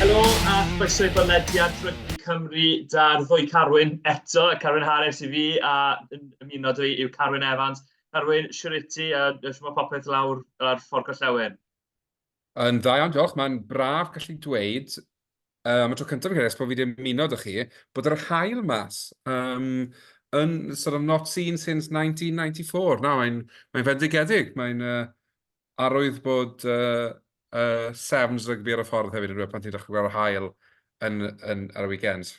Helo a chroeso i bodlediad Rygbi Cymru 'da'r ddwy Carwyn eto, Carwyn Harris i fi a yn ymuno dwi yw Carwyn Evans. Carwyn, siwr i ti a shwmae popeth lawr ar Ffordd Gorllewin? Yn dda iawn, diolch. Mae'n braf gallu dweud, uh, am y tro cyntaf yn Ceres, bod fi wedi ymuno dych chi, bod yr hael mas. Um, yn sort of not seen since 1994. Na, mae'n mae fendigedig. Mae'n uh, arwydd bod uh, uh, Sevens rygbi ar y ffordd hefyd yn rhywbeth pan ti'n dechrau gweld hael yn, yn, ar y weekends.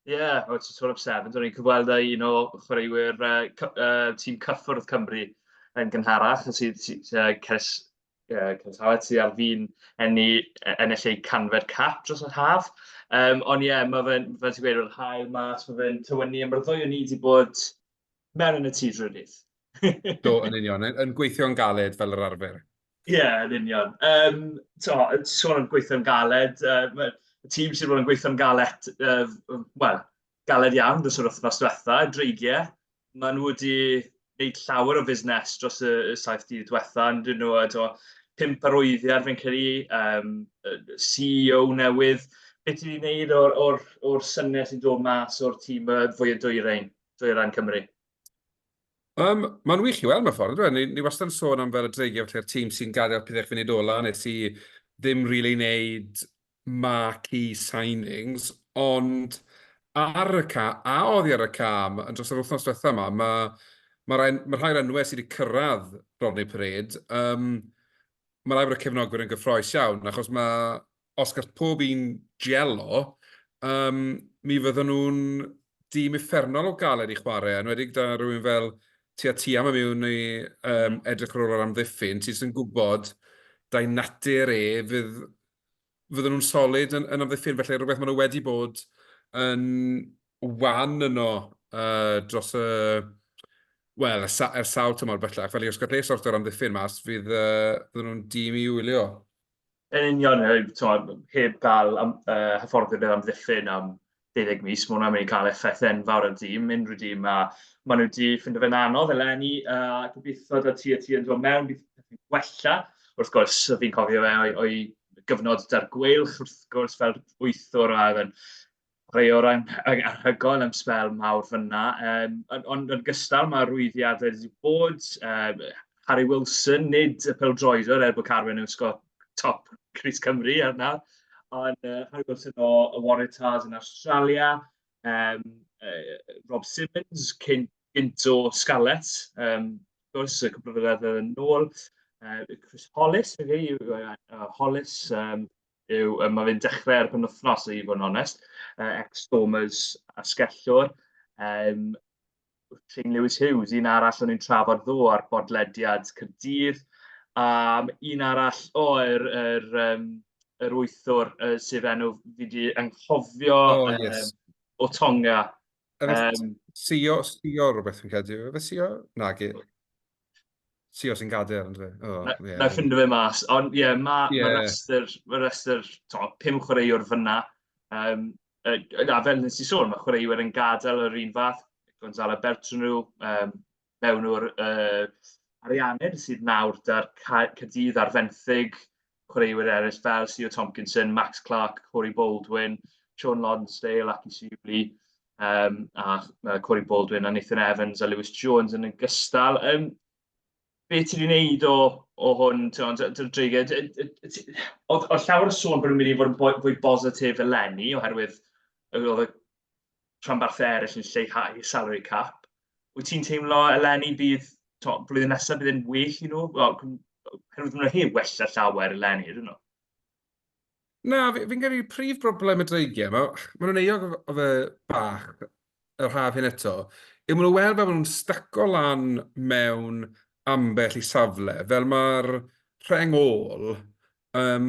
Ie, yeah, o ti'n sôn am Sevens, o'n i'n cyfweld â un o chwaraewyr uh, uh, tîm cyffwrdd Cymru yn gynharach, sydd uh, Ceres uh, Cyntalet sydd ar fin enni, e, ennill eu canfer cap dros yr haf. Um, ond ie, yeah, mae fe'n, fel ti'n gweud, yr hael mas, mae fe'n tywynnu, a mae'r ddwy o'n i wedi bod mewn yn y tŷ drwy'r dydd. Do, yn union, yn, yn gweithio'n galed fel yr arfer. Ie, yeah, yn union. Um, to, sôn am gweithio'n galed, uh, y tîm sydd wedi bod yn gweithio'n galed, uh, wel, galed iawn dros yr wythnos diwetha', dreigie. Maen nhw wedi wneud llawer o fusnes dros y y saith dydd diwetha', yn 'dyn nhw, a tibod pump arwyddiad fi'n credu, yym yy CEO newydd. Be ti 'di wneud o'r o'r o'r syniad sy'n dod mas o'r tîm yy fwya' dwyrein, Dwyrain Cymru? Yym ma'n wych i weld mewn ffordd yndyw e? Ni ni wastad yn sôn am fel y dreigie falle a'r tîm sy'n gadael pethe i chi fynd ola, nes i ddim rili neud marquee signings, ond ar y ca-, a oddi ar y cam yn dros yr wythnos diwetha' 'ma, ma' ma' rai ma' rhai'r enwe sy' 'di cyrraedd Rodney Parade, yym, ma' rai bod y cefnogwyr yn gyffrous iawn, achos ma' os gall pob un jelo, yym, mi fyddan nhw'n dîm uffernol o galed i chwarae, enwedig 'da rywun fel Tia Tiam yn mynd i edrych ar ôl yr amddiffyn, ti jyst yn gwybod, da'i natur e, fydd fydden nhw'n solid yn, yn amddiffyn, felly rhywbeth maen nhw wedi bod yn wan yno uh, dros y... Wel, er, er sawl tymor bellach, felly os gallai sort o'r amddiffyn mas, fydd, uh, fydden nhw'n dîm i wylio. Yn union, heb cael am, uh, hyfforddi'r amddiffyn am 12 mis, mae hwnna'n mynd i cael effaith enfawr ar dîm, unrhyw dîm, a maen nhw wedi ffindo fe'n anodd eleni, a gobeithio da ti a ti yn dod mewn, bydd pethau'n gwella. Wrth gwrs, fi'n cofio fe o'i, o'i gyfnod da'r gweilch, wrth gwrs, fel wythwr a oedd yn rhai o'r anhygoel am spel mawr fyna. Um, ond yn gystal, mae rwyddiadau wedi bod, um, Harry Wilson, nid y peldroediwr er bod Carwyn yn sgor top Cris Cymru ar nawr, ond uh, Harry Wilson o y Waratahs yn Australia, um, uh, Rob Simmons, cyn, gynt o Scarlett, um, gwrs, y cwbl o flynedd yn ôl, uh, Chris Hollis, fe okay, yw, uh, Hollis, um, yw, um, mae fe'n dechrau ar y penwthnos, i fod yn onest, uh, ex-Stormers a Skellwr, um, King Lewis Hughes, un arall o'n i'n trafod ddo ar bodlediad Cyrdydd. Um, un arall, o, oh, yr, yr, um, yr wythwr uh, sydd enw fi wedi anghofio oh, yes. um, o Tonga. Um, Sio, Sio rhywbeth yn credu. Fe Sio? Na, gyd. Ti os yn gader, ond fe. Oh, na, yeah. na ffindio fe mas. Ond ie, yeah, mae yeah. ma rhestr, ma rhestr to, pum chwaraewr fyna. Um, uh, na, fel nes i sôn, mae chwaraewyr yn gadael yr un fath. Gonzalo Bertranu, um, mewn o'r uh, Arianed sydd nawr da'r Cadydd ar fenthyg. chwaraewyr eraill fel Sio Tomkinson, Max Clark, Corey Baldwin, Sean Lonsdale ac i Siwli, um, a uh, Corey Baldwin a Nathan Evans a Lewis Jones yn y gystal. Um, be ti wedi gwneud o, o hwn, ti'n dreiged? Oedd llawer o sôn bod nhw'n mynd i fod yn fwy bositif eleni, oherwydd oedd y rhanbarthau eraill yn lleihau salary cap. Wyt ti'n teimlo eleni bydd, to, blwyddyn nesaf bydd yn well i nhw? Wel, hyrwyd nhw hi wella llawer eleni, ydyn nhw? Na, fi'n fi credu prif broblem y dreigiau, mae ma nhw'n eog o fe bach yr haf hyn eto, yw maen nhw'n weld fel maen nhw'n staco lan mewn ambell i safle, fel mae'r rheng ôl um,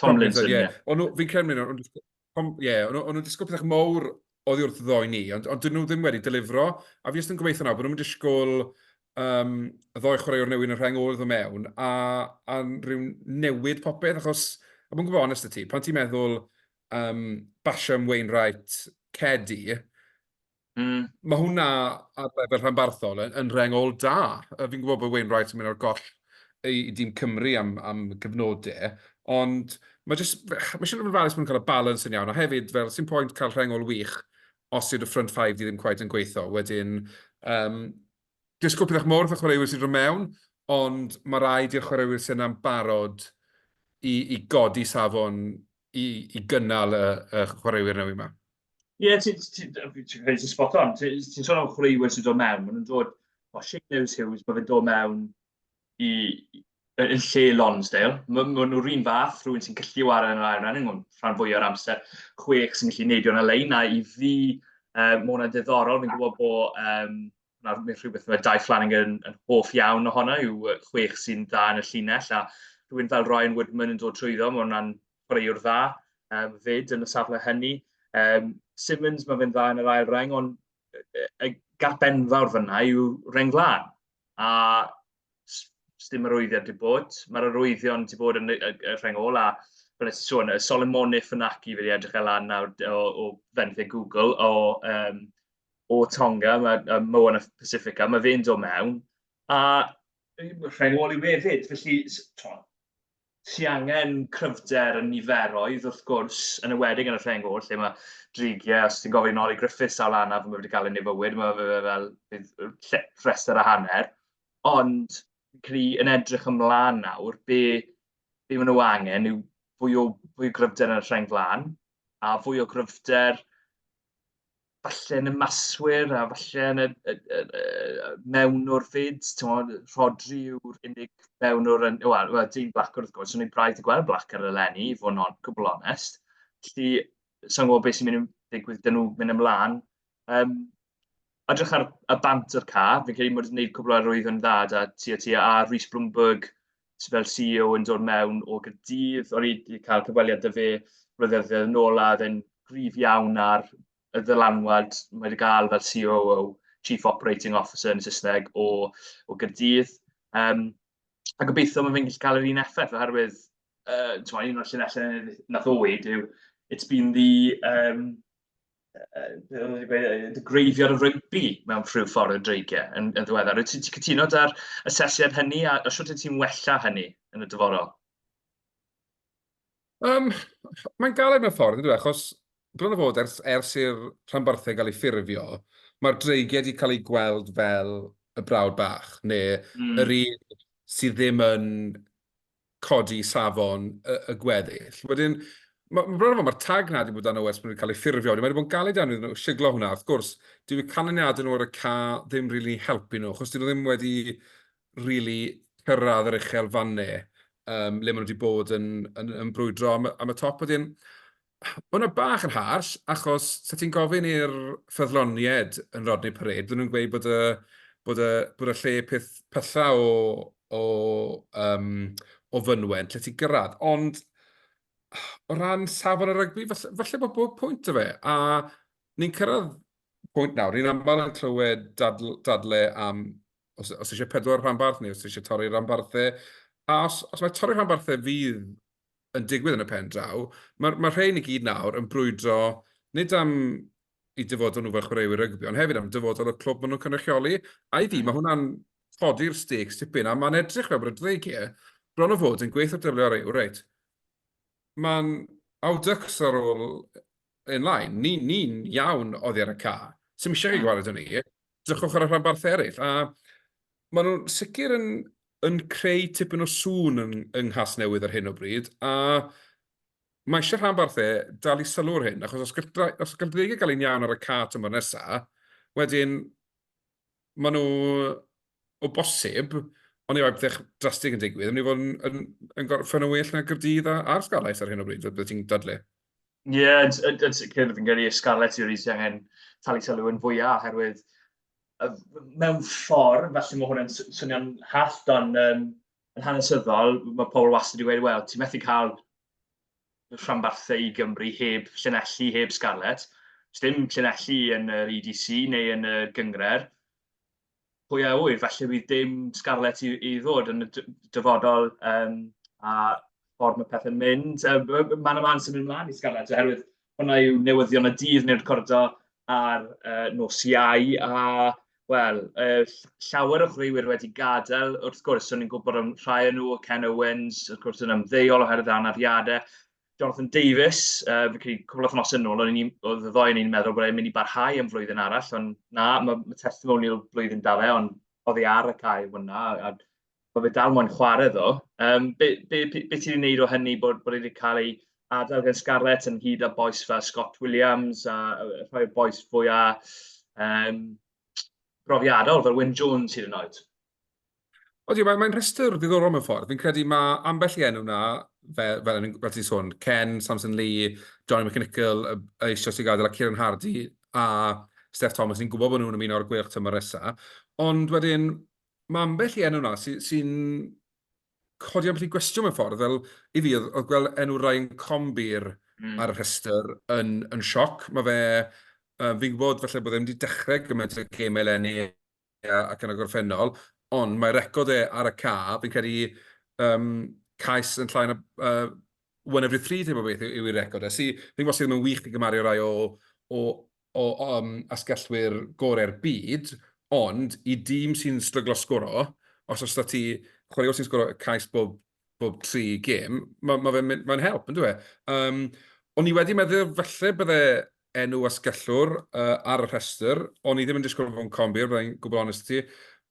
Tomlinson, ie. Yeah. Ond fi'n credu mynd, ond ie, yeah, ond nhw'n disgwyl pethau mawr oddi wrth ddoi ni, ond, ond dyn nhw ddim wedi delifro, a fi jyst yn gobeithio nawr bod nhw'n disgwyl um, y ddoi chwaraewr newydd yn y rheng ôl mewn, a, a rhyw newid popeth, achos, a mwyn gwybod onest y ti, pan ti'n meddwl um, Basham, Wainwright, Cedi, Mm. Mae hwnna ar lefel rhanbarthol yn, yn rengol da. Fi'n gwybod bod Wayne Wright yn mynd o'r goll i, i dîm Cymru am, am gyfnodau, ond mae jyst, mae eisiau rhywun falus mae'n cael y balans yn iawn, a hefyd, fel, sy'n pwynt cael rhengol wych os yw'r front five di ddim cwaith yn gweithio. Wedyn, um, disgwyl pethau mor fath chwaraewyr sy'n rhywun mewn, ond mae rhaid i'r chwaraewyr sy'n am barod i, i godi safon i, i gynnal y, y chwaraewyr newydd yma. Ie, ti'n ti, spot on. Ti'n ti sôn am chwaraewyr sy'n dod mewn. Maen nhw'n dod, o, Shane Lewis Hughes, mae fe'n dod mewn i, yn lle Lonsdale. Maen ma nhw'r un fath, rhywun sy'n gallu wario yn yr ail rhan, yn rhan fwy o'r amser, chwech sy'n gallu neidio yn y lein, a i fi, um, mae hwnna'n diddorol, fi'n gwybod bod um, na, neu rhywbeth mae Dai Flanagan yn hoff iawn ohono yw chwech sy'n dda yn y llinell, a rhywun fel Ryan Woodman yn dod trwyddo, mae hwnna'n chwaraewr dda um, fyd yn y safle hynny. Um, Simmons, mae fe'n dda yn yr ail reng, ond y gap enfawr fyna yw reng flan. A ddim arwyddiad wedi bod. Mae'r arwyddion wedi bod yn y, y, y rheng ola. Fel ydych sôn, y Solomoniff yn ac i wedi edrych e lan nawr o, o fenthyg Google o, um, o Tonga, mae um, Moana Pacifica, mae fe'n dod mewn. A rheng ôl i hefyd, felly, to, Ti angen cryfder yn niferoedd, wrth gwrs, yn ywedig yn y rheng oll, lle mae drigiau, os ti'n gofyn Nolly Griffiths sawl anaf mae wedi cael ei nefywyd, mae fe fel rhestr a hanner. Ond, cri yn edrych ymlaen nawr, be, be maen nhw angen yw fwy o, fwy o gryfder yn y rheng flan, a fwy o gryfder falle yn y maswyr a falle yn y, y, y, y mewnwr fyd, ti'n Rodri yw'r unig mewnwr yn, wel, well, dyn blac wrth gwrs, o'n i'n braidd i gweld blac ar y lenni, i fod yn gwbl onest. Felly, sa'n gwybod beth sy'n mynd i ddigwydd dyn nhw mynd ymlaen. Um, edrych ar y bant o'r ca, fi'n credu bod yn gwneud cwbl ar rwydd yn dda da ti a ti a Rhys Bloomberg fel CEO yn dod mewn o Gaerdydd. O'n i wedi cael cyfweliad â fe flynyddoedd yn ôl a oedd e'n gryf iawn ar y ddylanwad mae wedi cael fel COO, Chief Operating Officer yn Saesneg, o, o Gaerdydd. Um, a gobeithio mae fe'n gallu cael yr un effaith oherwydd uh, un o'r llunellau nath o weid yw it's been the um, dy greifio ar y rygbi mewn rhyw ffordd yn dreigiau yn, yn ddiweddar. Wyt ti'n cytuno da'r asesiad hynny a, a sut ti'n wella hynny yn y dyfodol? Um, mae'n galed mewn ffordd, ydw, e, achos bron o fod ers, ers i'r rhanbarthau gael ei ffurfio, mae'r dreigiau wedi cael ei gweld fel y brawd bach, neu mm. yr un sydd ddim yn codi safon y, y gweddill. Wedyn, mae ma bron mae'r tag na wedi bod dan OS, mae wedi cael ei ffurfio, wedi, mae wedi bod yn galed iawn iddyn nhw siglo hwnna. Wrth gwrs, dyw y canlyniadau nhw ar y ca ddim rili really helpu nhw, achos dyn nhw ddim wedi rili really cyrraedd yr uchel fanne um, le maen nhw wedi bod yn, yn, yn brwydro am, am y top. Wedyn, Mae hwnna bach yn harsh, achos sa ti'n gofyn i'r ffyddloniaid yn Rodney Parade, bydden nhw'n gweud bod y, bod y, bod y lle peth pylla o, o, um, o fynwent lle ti'n gyrraedd. Ond o ran safon y rygbi, falle, falle bod bob pwynt o fe. A ni'n cyrraedd pwynt nawr, ni'n aml yn clywed dadl, dadle am os, os eisiau pedwar rhanbarth neu os eisiau torri rhanbarthau. A os, os mae torri rhanbarthau fydd yn digwydd yn y pen draw, mae'r ma rhein i gyd nawr yn brwydro nid am i dyfodol nhw fel chwaraewyr rygbi, ond hefyd am dyfodol y clwb maen nhw'n cynrychioli. A i fi, mae hwnna'n codi'r stakes tipyn, a mae'n edrych fel bod y dreigiau bron o fod yn gweithio dylio ar eu, reit, mae'n awdycs ar ôl yn lain, ni'n ni iawn oddi ar y ca, sy'n eisiau ei gwared o'n ni, Drychwch ar y rhanbarthau eraill, a maen nhw'n sicr yn, yn creu tipyn o sŵn yng, yng Nghas Newydd ar hyn o bryd, a mae eisiau rhanbarthau dal i sylw'r hyn, achos os gall, os gall dreigiau gael ein iawn ar y cat yma nesaf, wedyn maen nhw o bosib, ond efallai bethau drastig yn digwydd, yn mynd i fod yn, yn, yn gorffen yn well na Gyrdydd a'r Scarlets ar hyn o bryd, beth ti'n dadle? Ie, yeah, yn sicr, fi'n gyrru Scarlett Series i angen talu sylw yn fwyaf, oherwydd mewn ffordd, felly mae hwnna'n swnio'n hallt, ond um, yn hanesyddol, mae pobl wastad wedi wedi, wel, ti'n methu cael rhanbarthau i Gymru heb llinelli, heb Scarlett. Dim llinelli yn yr EDC neu yn y gyngred. pwy a ŵyr, falle bydd dim Scarlett i, i ddod yn y dyfodol um, a ffordd mae pethau'n mynd. Um, man y man sy'n mynd mlaen i Scarlett, oherwydd hwnna yw newyddion y dydd neu'r cordo ar uh, nos iau, a wel, uh, llawer o chwaraewyr wedi gadael, wrth gwrs, o'n i'n gwybod am rhai o nhw, Ken Owens, wrth gwrs, yn ymddeol oherwydd anafiadau, Jonathan Davies, uh, fi'n credu cwbl o'ch nos yn ôl, oedd y ddoi yn ni'n meddwl bod e'n mynd i barhau yn flwyddyn arall, ond na, mae ma testimonial blwyddyn da fe, ond oedd ei ar y cae hwnna, a mae fe dal moyn chwarae ddo. Um, be, be, be, be ti'n gwneud o hynny bod, bod wedi cael ei adael gan Scarlett yn hyd â boes fel Scott Williams a rhoi'r boes fwy a um, brofiadol fel Wyn Jones hyd yn oed? Odi, mae'n mae rhestr ddiddorol mewn ffordd. Fi'n credu mae ambell i enw na, fel, fel, fel ti'n sôn, Ken, Samson Lee, Johnny McNichol, eisoes i gadael, a Kieran Hardy, a Steph Thomas, ni'n gwybod bod nhw'n ymuno ar gweilch tymor nesaf. Ond wedyn, mae ambell i enw na sy'n sy codi ambell i gwestiwn mewn ffordd, fel i fi, oedd gweld enw Ryan Combi'r mm. ar y rhestr yn, yn sioc. Mae fe, uh, fi'n gwybod falle bod e'n wedi dechrau gymaint o gemau lenni Ie, ac yn y gorffennol, ond mae record e ar y ca, fi'n credu um, cais yn llai na uh, one every three type o beth yw, yw record e. Si, fi'n gwybod sydd ddim yn wych i gymaru rai o, o, o um, asgellwyr gorau'r byd, ond i dîm sy'n stryglo sgoro, os oes da ti chwaraewr sy'n sgoro cais bob bob tri gêm, mae'n ma ma, ma help, yn dwi e? Um, o'n i wedi meddwl falle bydde enw asgellwr uh, ar y rhestr, o'n i ddim yn disgwyl fo'n combir, byddai'n gwybod onest ti.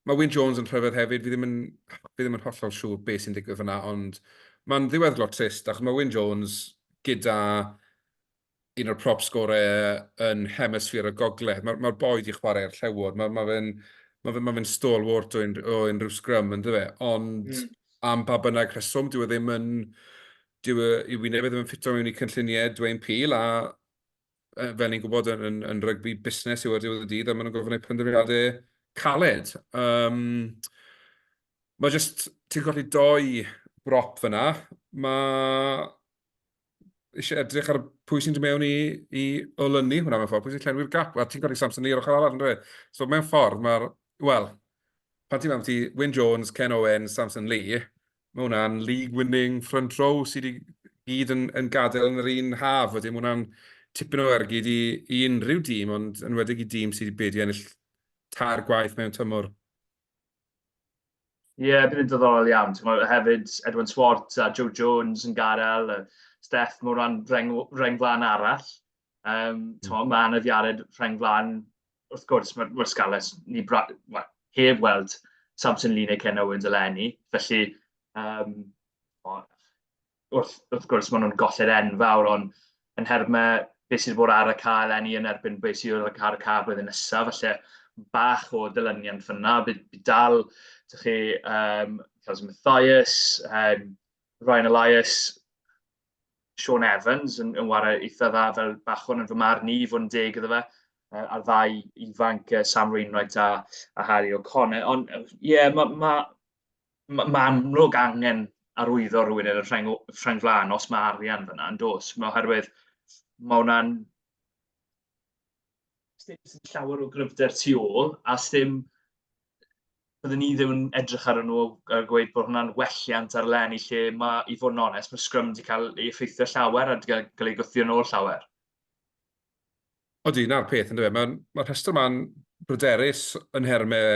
Mae Wyn Jones yn rhyfedd hefyd, fi ddim yn, fi ddim yn hollol siŵr beth sy'n digwydd fyna, ond mae'n ddiweddglo trist, achos mae Wyn Jones gyda un o'r prop sgore yn hemisffer y gogledd. Mae'r ma boi di chwarae ar llewod. Mae ma fe'n ma fe, ma fe stalwart o, un, o unrhyw sgrym, ynddo fe. Ond mm. am ba bynnag rheswm, dyw e ddim yn... Dyw e, i wyneb e ddim yn ffito mewn i cynlluniau Dwayne Peel, a e, fel ni'n gwybod yn, yn, yn rygbi busnes yw ar diwedd y dydd, a maen nhw'n gofyn eu penderfyniadau caled. Um, mae jyst, ti'n colli doi brop fyna, mae eisiau edrych ar pwy sy'n dod mewn i, i olynu hwnna mewn ffordd, pwy sy'n llenwi'r gap, a ti'n gorau Samson Lee ar ochr arall yn dweud. So mewn ffordd, mae'r, wel, pan ti'n meddwl ti Wyn Jones, Ken Owen, Samson Lee, mae hwnna'n league winning front row sydd wedi gyd yn, yn gadael yn yr un haf, wedyn mae hwnna'n tipyn o ergyd i, i unrhyw dîm, ond yn wedig i dîm sydd wedi ennill tair gwaith mewn tymor. Ie, yeah, bydd yn dyddorol iawn. Ti'n gwybod, hefyd, Edwin Swart a Joe Jones yn gadael, a Steph mewn rhan reng, reng flan arall. Um, ti'n gwybod, mae Anna Fiared reng flan, wrth gwrs, mae'r ma Scarlets, ni bra, well, heb weld Samson Lee neu Ken Owens eleni. Felly, um, o, wrth, wrth gwrs, maen nhw'n golled enfawr, ond yn herb mae beth sydd bod ar y cael enni yn erbyn beth sydd wedi cael y cael blwyddyn nesaf, felly bach o dylyniant fyna, bydd dal, dych chi, um, Cazim Mathias, um, Ryan Elias, Sean Evans yn, yn wario eitha dda fel bachwn yn fy marn i, fod yn deg iddo fe, uh, a'r ddau ifanc uh, Sam Reinwright a, a Harry O'Connor. Ond ie, yeah, mae ma, Mae ma amlwg angen arwyddo rhywun yn y rheng, rheng flaen os mae arian fyna yn dos. Mae oherwydd mae hwnna'n ddim sy'n llawer o gryfder tu ôl, a ddim, byddwn ni ddim yn edrych ar nhw a gweud bod hwnna'n welliant ar len i lle mae, i fod yn onest, mae Scrum wedi cael ei effeithio llawer a wedi cael ei gwthio yn ôl llawer. Odi, 'na'r peth, yndyw e. Mae'r ma rhestr yma'n bryderus yn nhermau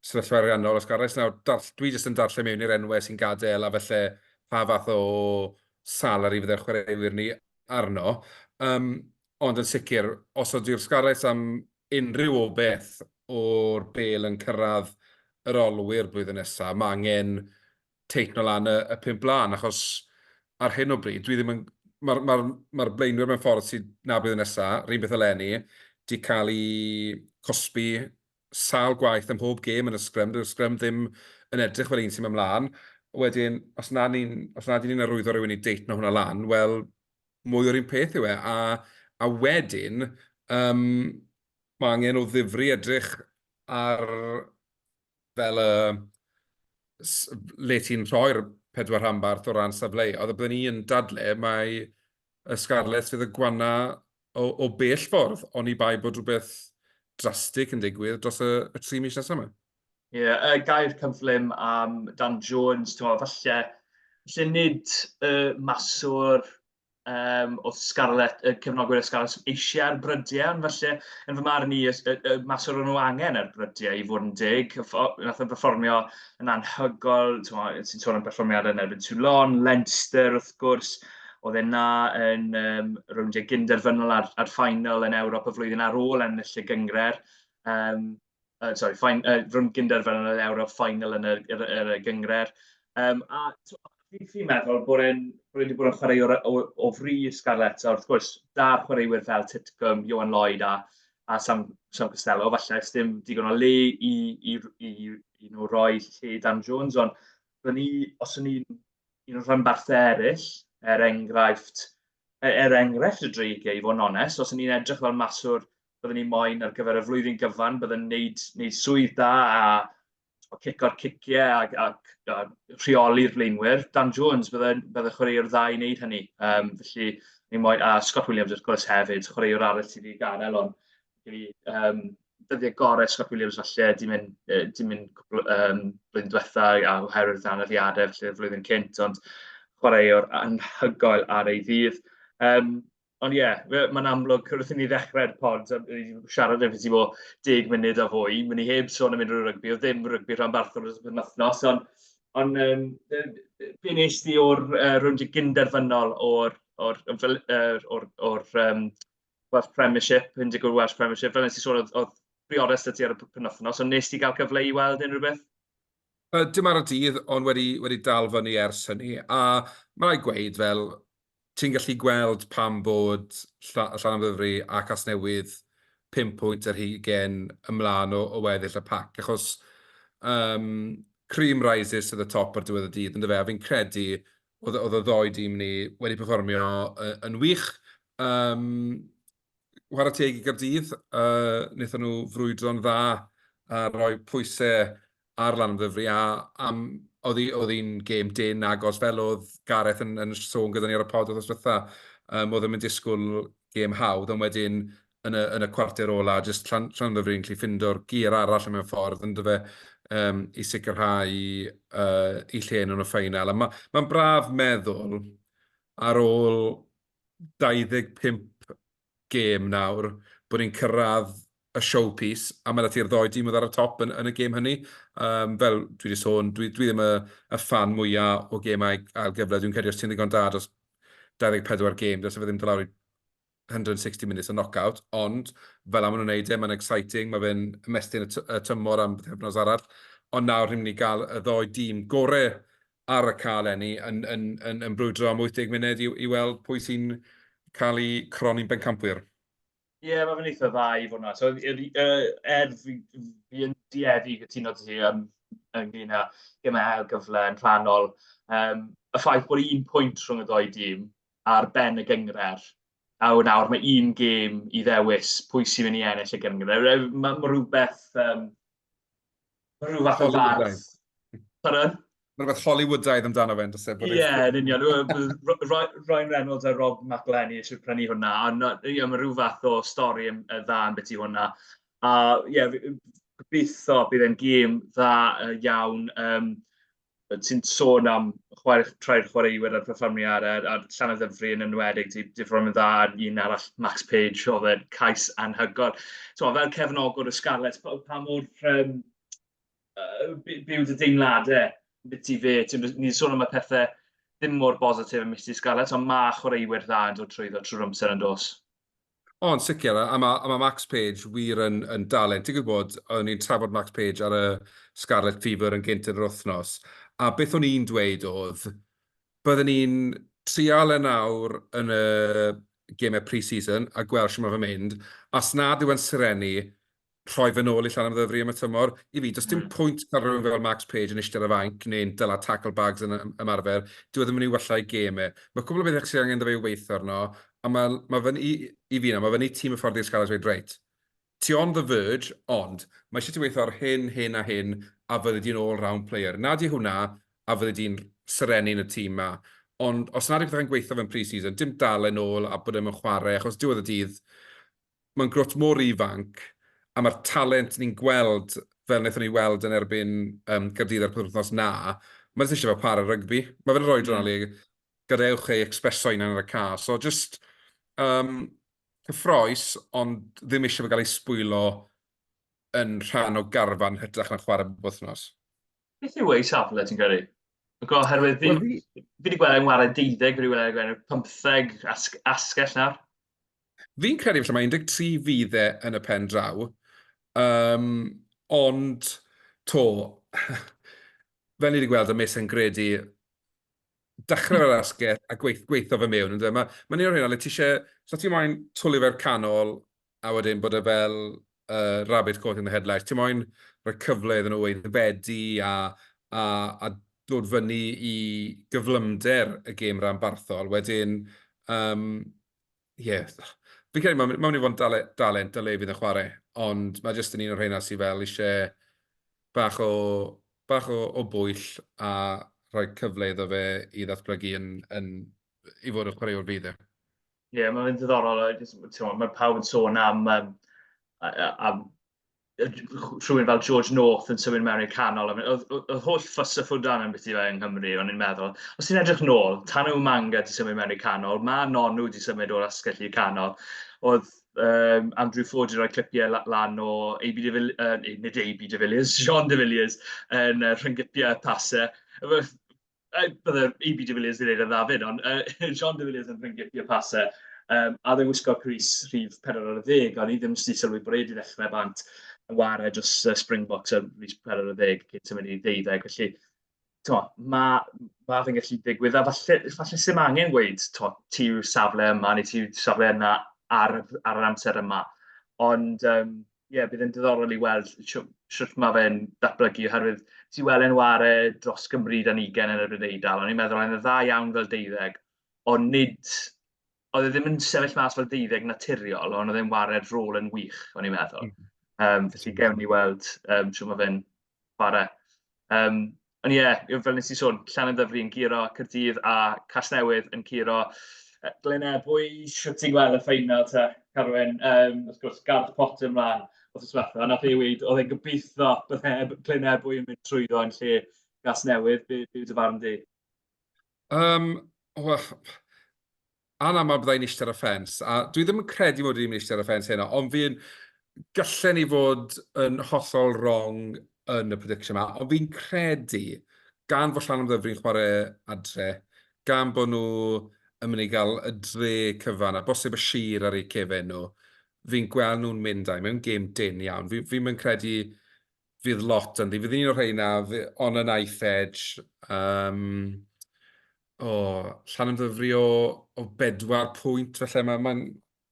sefyllfa ariannol, os garreg. Nawr, darll, dwi jyst yn darllen mewn i'r enwau sy'n gadael a felly pa fath o salary fydde'r chwaraewyr ni arno. Um, ond yn sicr, os ydy'r Scarlets am unrhyw o beth o'r bel yn cyrraedd yr olwyr blwyddyn nesaf, mae angen teitno lan y, y pum blaen, achos ar hyn o bryd, dwi ddim yn... Mae'r ma ma blaenwyr mewn ffordd sydd na bydd yn nesaf, rhywun beth eleni, di cael ei cosbi sal gwaith ym mhob gêm yn y sgrym, dyw'r sgrym ddim yn edrych fel un sy'n mynd mlaen. Wedyn, os nad ni'n ni arwyddo rhywun i deitno hwnna lan, wel, mwy o'r un peth yw e. A, a wedyn, um, mae angen o ddifri edrych ar fel y... le ti'n rhoi'r pedwar rhanbarth o ran safleoedd, a byddwn ni yn dadle mai y Scarlets fydd y gwana o, o bell ffordd, oni bai bod rhywbeth drastig yn digwydd dros y, y tri mis nesaf yma. Ie, yeah, y gair cyflym am Dan Jones, ti'n meddwl, falle, lle nid y maswr um, oedd Scarlett, y cefnogwyr y Scarlett eisiau ar brydiau, ond felly, yn fy marn i, y, y, y mas o'r nhw angen ar brydiau i fod yn dig. Nath o'n performio yn anhygol, ti'n sôn am performiadau yn erbyn Toulon, Leinster wrth gwrs, oedd e na yn um, rowndiau gynderfynol ar, ar ffainal yn Ewrop y flwyddyn ar ôl ennill y gyngred. Um, Yy sori, ffin- yy rhwng gynderfynu yn yr Ewrop, final yn yr yr yr y gynghrair. Yym a tibod, fi'n fi meddwl bod e'n bod e wedi bod yn chwarae o'r o o fri i Scarlets a wrth gwrs da'r chwaraewyr fel Titcomb, Johan Lloyd a a Sam Sam Costello falle oes dim digon o le i i i i nhw roi lle Dan Jones ond byddwn ni os o'n i'n un o'r rhanbarthau eraill er enghraifft e- er enghraifft y Dreigiau i fod yn onest os o'n i'n edrych fel maswr byddwn ni moyn ar gyfer y flwyddyn gyfan, byddwn wneud, wneud swydd da a cico'r ciciau ac, ac, ac rheoli'r blaenwyr. Dan Jones, byddai, byddai chwaraewr dda i wneud hynny. Um, felly, ni moed, a Scott Williams wrth gwrs hefyd, chwaraewr arall sydd wedi gadael, ond fi, um, dyddiau gorau Scott Williams falle, di mynd, di mynd cwbl, um, blwyddyn diwetha a oherwydd anaddiadau, felly flwyddyn cynt, ond chwaraewr anhygoel ar ei ddydd. Um, Ond ie, fe- mae'n amlwg, wrth i ni ddechrau'r pod, a i siarad efo ti bod deg munud a fwy, mi ni heb sôn am unrhyw rygbi, oedd ddim rygbi rhanbarthol dros y penwythnos, ond ond yym be be wnes di o'r yy rownd gynderfynol o'r o'r fel yr o'r o'r yym Welsh Premiership, un deg wyth Welsh Premiership, fel wnes di sôn oedd oedd Briores 'da ti ar y p- penwythnos, ond wnes di gael cyfle i weld unrhyw beth? Yy, dim ar y dydd, ond wedi wedi dal fyny ers hynny, a ma' raid gweud fel ti'n gallu gweld pam bod Llanymddyfri a Casnewydd pum pwynt ar hugain ymlaen o weddill y pac, achos um, cream rises to the top ar diwedd y dydd, ynddo fe, a fi'n credu oedd y ddoi dîm ni wedi performio yn wych. Um, whara teg i Gardydd, uh, wnaethon nhw frwydro'n dda a rhoi pwysau ar lan ddyfri, a am, oedd hi'n gêm dyn agos fel oedd Gareth yn, yn sôn gyda ni ar y pod oedd ysbytha, um, oedd yn disgwyl gêm hawdd, ond wedyn yn y, yn y cwarter ola, jyst llan, llan ddyfri yn gallu ffindo'r gyr arall mewn ffordd, yn dyfa um, i sicrhau uh, i lle nhw'n y ffeinal. Mae'n ma, ma braf meddwl ar ôl 25 gêm nawr bod ni'n cyrraedd y showpiece, a ma' 'da ti'r ddou dîm oedd ar y top yn y gêm hynny. Yym, fel dwi 'di sôn, dwi ddim y ffan mwya o gêmau ail gyfle. Dwi'n credu os ti'n ddigon da dros 24 gêm, dylse fe ddim dod lawr i 160 minutes o knock-out, ond fela ma' nhw'n neud e, ma'n exciting, ma' fe'n ymestyn y tymor am bythefnos arall. Ond nawr ni'n mynd i ga'l y ddou dîm gore ar y cae eleni yn brwydro am 80 munud i weld pwy sy'n cael eu croni'n bencampwyr. Ie, mae fe'n eitha dda i fod yna. So, er fi yn dueddu i gytuno dy ti ynglyn â gemau ail gyfle yn rhannol, um, y ffaith bod un pwynt rhwng y ddoi dîm ar ben y gyngred, a wna nawr mae un gêm i ddewis pwy sy'n mynd i ennill y gyngred. Mae ma rhywbeth um, rhyw fath o fardd. Pardon? Mae'n rhywbeth Hollywoodaidd amdano fe'n dysau. Ie, yeah, yn union. Ryan Reynolds a Rob McElhenney eisiau prynu hwnna. Ond yeah, mae rhyw fath o stori yn dda yn beth i hwnna. A ie, yeah, gobeithio bydd e'n gêm dda iawn. Um, ti'n sôn am chwarae, trai'r chwaraewyr a'r perfformiad a'r, ar Llanau Ddyfri yn enwedig, ti wedi ffro'n dda ar un arall, Max Page, oedd e'n cais anhygol. So, fel cefnogwr y Scarlets, pa, pa mor um, uh, byw dy deimladau beth ti fe? Ni'n sôn am y pethau ddim mor bositif yn mis i Scarlets, ond mae chwaraewyr dda yn dod trwyddo trwy'r amser yn dos. O, yn sicr, a mae, a mae Max Page wir yn, yn dalent. Ti'n gwybod, o'n i'n trafod Max Page ar y Scarlet Fever yn gynt yn yr wythnos, a beth o'n i'n dweud oedd, byddwn ni'n trial yn e awr yn y gemau pre-season a gweld sy'n mae fe'n mynd, a sna dyw e'n sirennu, rhoi fy nôl i llan am ddyfru am y tymor. I fi, does dim hmm. pwynt cael rhywun fel Max Page yn eistedd ar fanc neu'n dyla tackle bags yn ymarfer. Dwi e ddim yn ei wella i gêm e. Mae cwbl o bethau sydd angen dda i weithio arno, a mae, mae fy, i, i fi yna, mae fyny tîm y ffordd i'r sgalas wedi reit. Ti on the verge, ond mae eisiau ti weithio ar hyn, hyn a hyn, a fyddi di'n all-round player. Na di hwnna, a fyddi di'n serennu yn y tîm ma. Ond os nad yw'n gweithio fe'n pre-season, dim dal yn ôl a bod e'n chwarae, achos diwedd y dydd, Mae'n grwt mor ifanc, a mae'r talent ni'n gweld, fel wnaethon ni weld yn erbyn um, Gaerdydd ar penwythnos na, mae jyst eisiau fel chwarae rygbi. Mae fe'n rhoi dron mm. gadewch ei expreso yn ar y ca. So just um, cyffroes, ond ddim eisiau fe gael ei sbwylo yn rhan o garfan hytrach na chwarae bob wythnos. Beth yw ei safle, ti'n credu? Oherwydd fi, well, fi wedi gweld e'n wario 12, fi wedi gweld e'n 15 asgell nawr. Fi'n credu falle mae 13 fydd e yn y pen draw, um, ond to, fel ni wedi gweld y mes yn gredu, dechrau fel asgell a gweith, gweithio fe mewn. Mae, mae un o'r hyn, le ti eisiau, so ti moyn twlu fe'r canol, a wedyn bod e fel uh, rabbit caught in the headlights. Ti'n moyn rhoi cyfle iddyn nhw weithredu a, a, a dod fyny i gyflymder y gêm rhan barthol. Wedyn, um, yeah, fi'n credu mae'n mynd i fod yn dale, dalent a le fydd yn chwarae, ond mae jyst yn un o'r rheina sydd fel eisiau bach o, bach o, o bwyll a rhoi cyfle iddo fe i ddatblygu yn, yn, i fod yn chwaraewr fydd e. Ie, yeah, mae'n ddiddorol. Mae pawb yn sôn am, um, am rhywun fel George North yn symud mewn i'r canol. Oedd holl ffys y ffwdan yn beth i fe yng Nghymru, o'n i'n meddwl. Os ti'n edrych nôl, tan yw Manga di symud mewn i'r canol, mae Nonu di symud o'r asgell i'r canol. Oedd um, Andrew Ford i roi clipiau lan o AB de Villiers, uh, nid AB de Villiers, John de Villiers, yn uh, rhyngipiau pasau. bydde EB de Villiers wedi dweud yn dda fyd, ond uh, Sean de Villiers yn ffrindiau y pasau, um, a ddim wisgo Cris rhif 40, o'n i ddim wedi sylwi bod wedi ddechrau bant yn wario dros uh, Springboks ar rhif 40 cyn symud i ddeuddeg, felly to, mae ma fe'n gallu digwydd, a falle, falle sy'n angen gweud, to, ti yw safle yma, neu ti yw safle yna ar, ar yr amser yma. Ond, um, ie, bydd e'n diddorol i weld sut mae fe'n datblygu, oherwydd ti weld e'n ware dros Gymru dan ugen yn erbyn Eidal, ond i'n meddwl oedd e'n dda iawn fel deuddeg, ond nid, oedd e ddim yn sefyll mas fel deuddeg naturiol, ond oedd e'n ware'r rôl yn wych, o'n i'n meddwl. Um, felly gewn ni weld um, sut mae fe'n ware. Um, Ond ie, yeah, fel nes i sôn, Llanymddyfri yn giro Cyrdydd a Casnewydd yn curo Glynedd. Pwy sy'n ti'n gweld y ffeinal ta, Carwyn? Um, wrth gwrs, Garth Potter ymlaen wrth yswetha. Ond nath ei wneud, oedd e'n gobeithio bydde Glynedd bwy yn mynd trwyddo yn lle Casnewydd. Be, be dy farn di? Um, well, anaml byddai'n eistedd ar y ffens, a dwi ddim yn credu mod i ddim yn eistedd ar y ffens heno, ond fi'n gyllen i fod yn hollol wrong yn y prediction yma, ond fi'n credu gan fod llan am ddyfru'n chwarae adre, gan bod nhw yn mynd i gael y dre cyfan, a bosib y sir ar eu cefen nhw, fi'n gweld nhw'n mynd a'i mewn gêm dyn iawn. Fi'n fi, fi credu fydd lot ynddi. Fydd un o'r rheina, on a knife edge, um, o, llan ymddyfri o, o bedwar pwynt, felly mae'n... Ma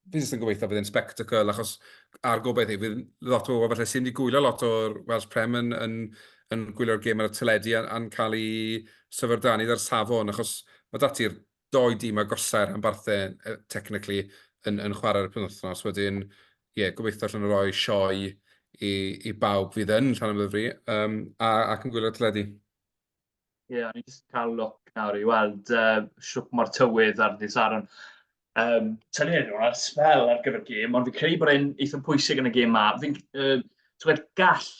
fi jyst yn gobeithio bydd yn spectacle, achos a'r gobeithio, i, fydd lot o bobl felly sy'n wedi gwylio lot o'r Welsh Prem yn, yn, yn gwylio'r gêm ar y teledu a'n cael ei syfrdanu ar safon, achos mae dati'r dou dîm agosau'r rhanbarthau, yy, technically, yn, yn chwarae'r penwythnos. Wedyn, ie, yeah, gobeithio allan o roi sioe i, i bawb fydd yn rhan o'r fri, um, a, ac yn gwylio'r teledu. Ie, yeah, ni'n just cael look nawr i weld uh, siwp mor tywydd ar ddi Saron. Um, Tynu hyn ar spel ar gyfer gêm, ond fi'n credu bod e'n eithaf pwysig yn y gêm ma. Fi'n, uh, twed, gall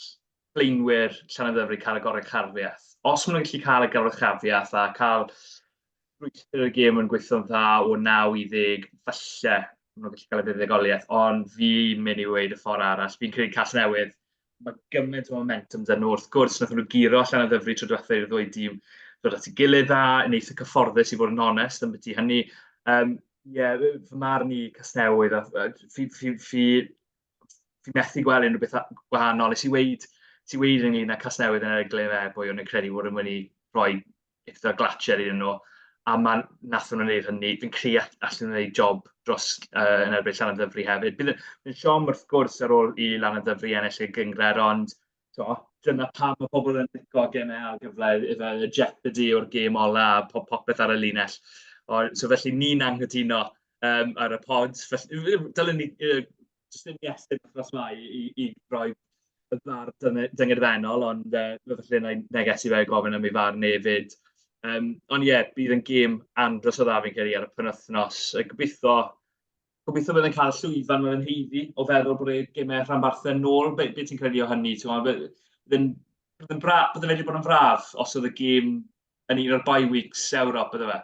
blaenwyr Llanymddyfri cael y goruchafiaeth. Os maen nhw'n gallu cael y goruchafiaeth a cael rhywbeth y gêm yn gweithio'n dda o 9 i 10, falle maen nhw'n gallu cael y buddugoliaeth, ond fi'n mynd i weid y ffordd arall. Fi'n credu cas newydd, mae gymaint o momentum dyn nhw. Wrth gwrs, nath nhw giro allan o ddyfru tro diwethaf i'r ddwy dîm dod at y gilydd dda, yn eitha cyfforddus i fod yn onest yn byti hynny. Um, Ie, yeah, fy marn i Casnewydd, fi, fi, fi, fi methu gweld unrhyw beth gwahanol. Nes i weid, ti weid ynglyn â Casnewydd yn erbyn Glyn Efe, o'n i'n credu bod yn mynd i roi eitha glatcher iddyn nhw, a man, nath nhw'n gwneud hynny. Fi'n credu allan nhw'n gwneud job dros uh, yn erbyn Llan y Ddyfri hefyd. Bydd yn siom wrth gwrs ar ôl i Llan y Ddyfri ennill ei gyngred, ond Tibod, dyna pam mae pobl yn licio gemau ar gyfle, efo y jeopardy o'r gêm ola a po- popeth ar y linell. O, so felly ni'n anghytuno um, ar y pod. Felly, dylen ni uh, jyst yn iestyn achos mae i, i roi y bar dyngedfennol, ond uh, felly na i negesu fe gofyn am ei far nefyd. Um, ond ie, yeah, bydd yn gêm andros o dda fi'n credu ar y penwthnos. Gobeithio Gobeithio bydd yn cael llwyfan mewn heiddi o feddwl bod y gemau rhanbarthau yn ôl. Be, be ti'n credu o hynny? Bydd yn, bydd bra, bydd wedi bod yn fraf os oedd y gêm yn un o'r bye weeks Ewrop, bydde fe?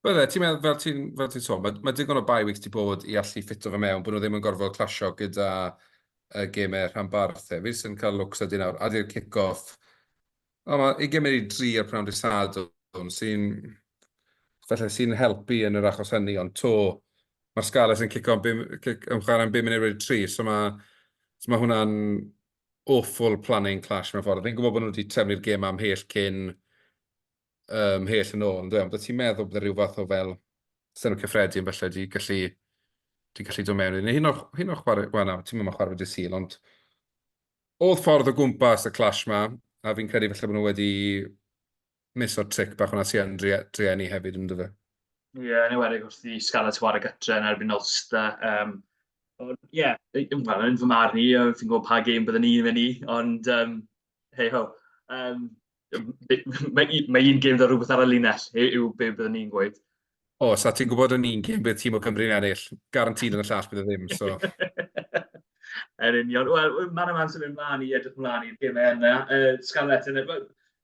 Wel, e, ti'n meddwl, fel ti'n fel ti sôn, mae, mae digon o bye weeks di bod i allu ffito fe mewn, bod nhw ddim yn gorfod clasio gyda y gemau rhanbarthau. Fi sy'n cael lwcs a dyn nawr, adi'r kick-off, O, mae ugain munud i dri ar pnawn dydd Sadwrn sy'n... falle sy'n helpu yn yr achos hynny, ond 'to mae'r Scarlets yn cico bum... cic- yn chwarae'n bum munud wedi tri, so mae... so mae hwnna'n awful planning clash mewn ffordd. Fi'n gwybod bod nhw wedi trefnu'r gêm 'ma ymhell cyn... yy ymhell yn ôl, yndyw e, ond oeddet ti'n meddwl byddai rhyw fath o fel Senedd Cyffredin falle 'di gallu... 'di gallu dod mewn iddi, neu hyd yn oed... hyd yn oed chwarae... wel na, ti'm mo'yn chwarae fe dydd Sul, ond Odd ffordd o gwmpas y clash ma, a fi'n credu falle bod nhw wedi mis o'r tric bach hwnna sy'n drueni hefyd yn dyfa. Ie, yeah, yn ewedig wrth i Scarlets ware gytre yn erbyn Ulster. Um, ond ie, yeah, well, yn fy marn i, fi'n gwybod pa gêm byddwn ni'n mynd i, ond um, hei ho. Um, Mae un gêm gyda rhywbeth ar y linell yw be byddwn ni'n gweud. O, sa ti'n gwybod yn un gêm bydd tîm o Cymru'n ennill, garantid yn y llall bydd y e ddim, so... Yn union. Wel, man yma'n symud mlaen i edrych mlaen i'r gymau yna. Uh, Scarlett, yn y...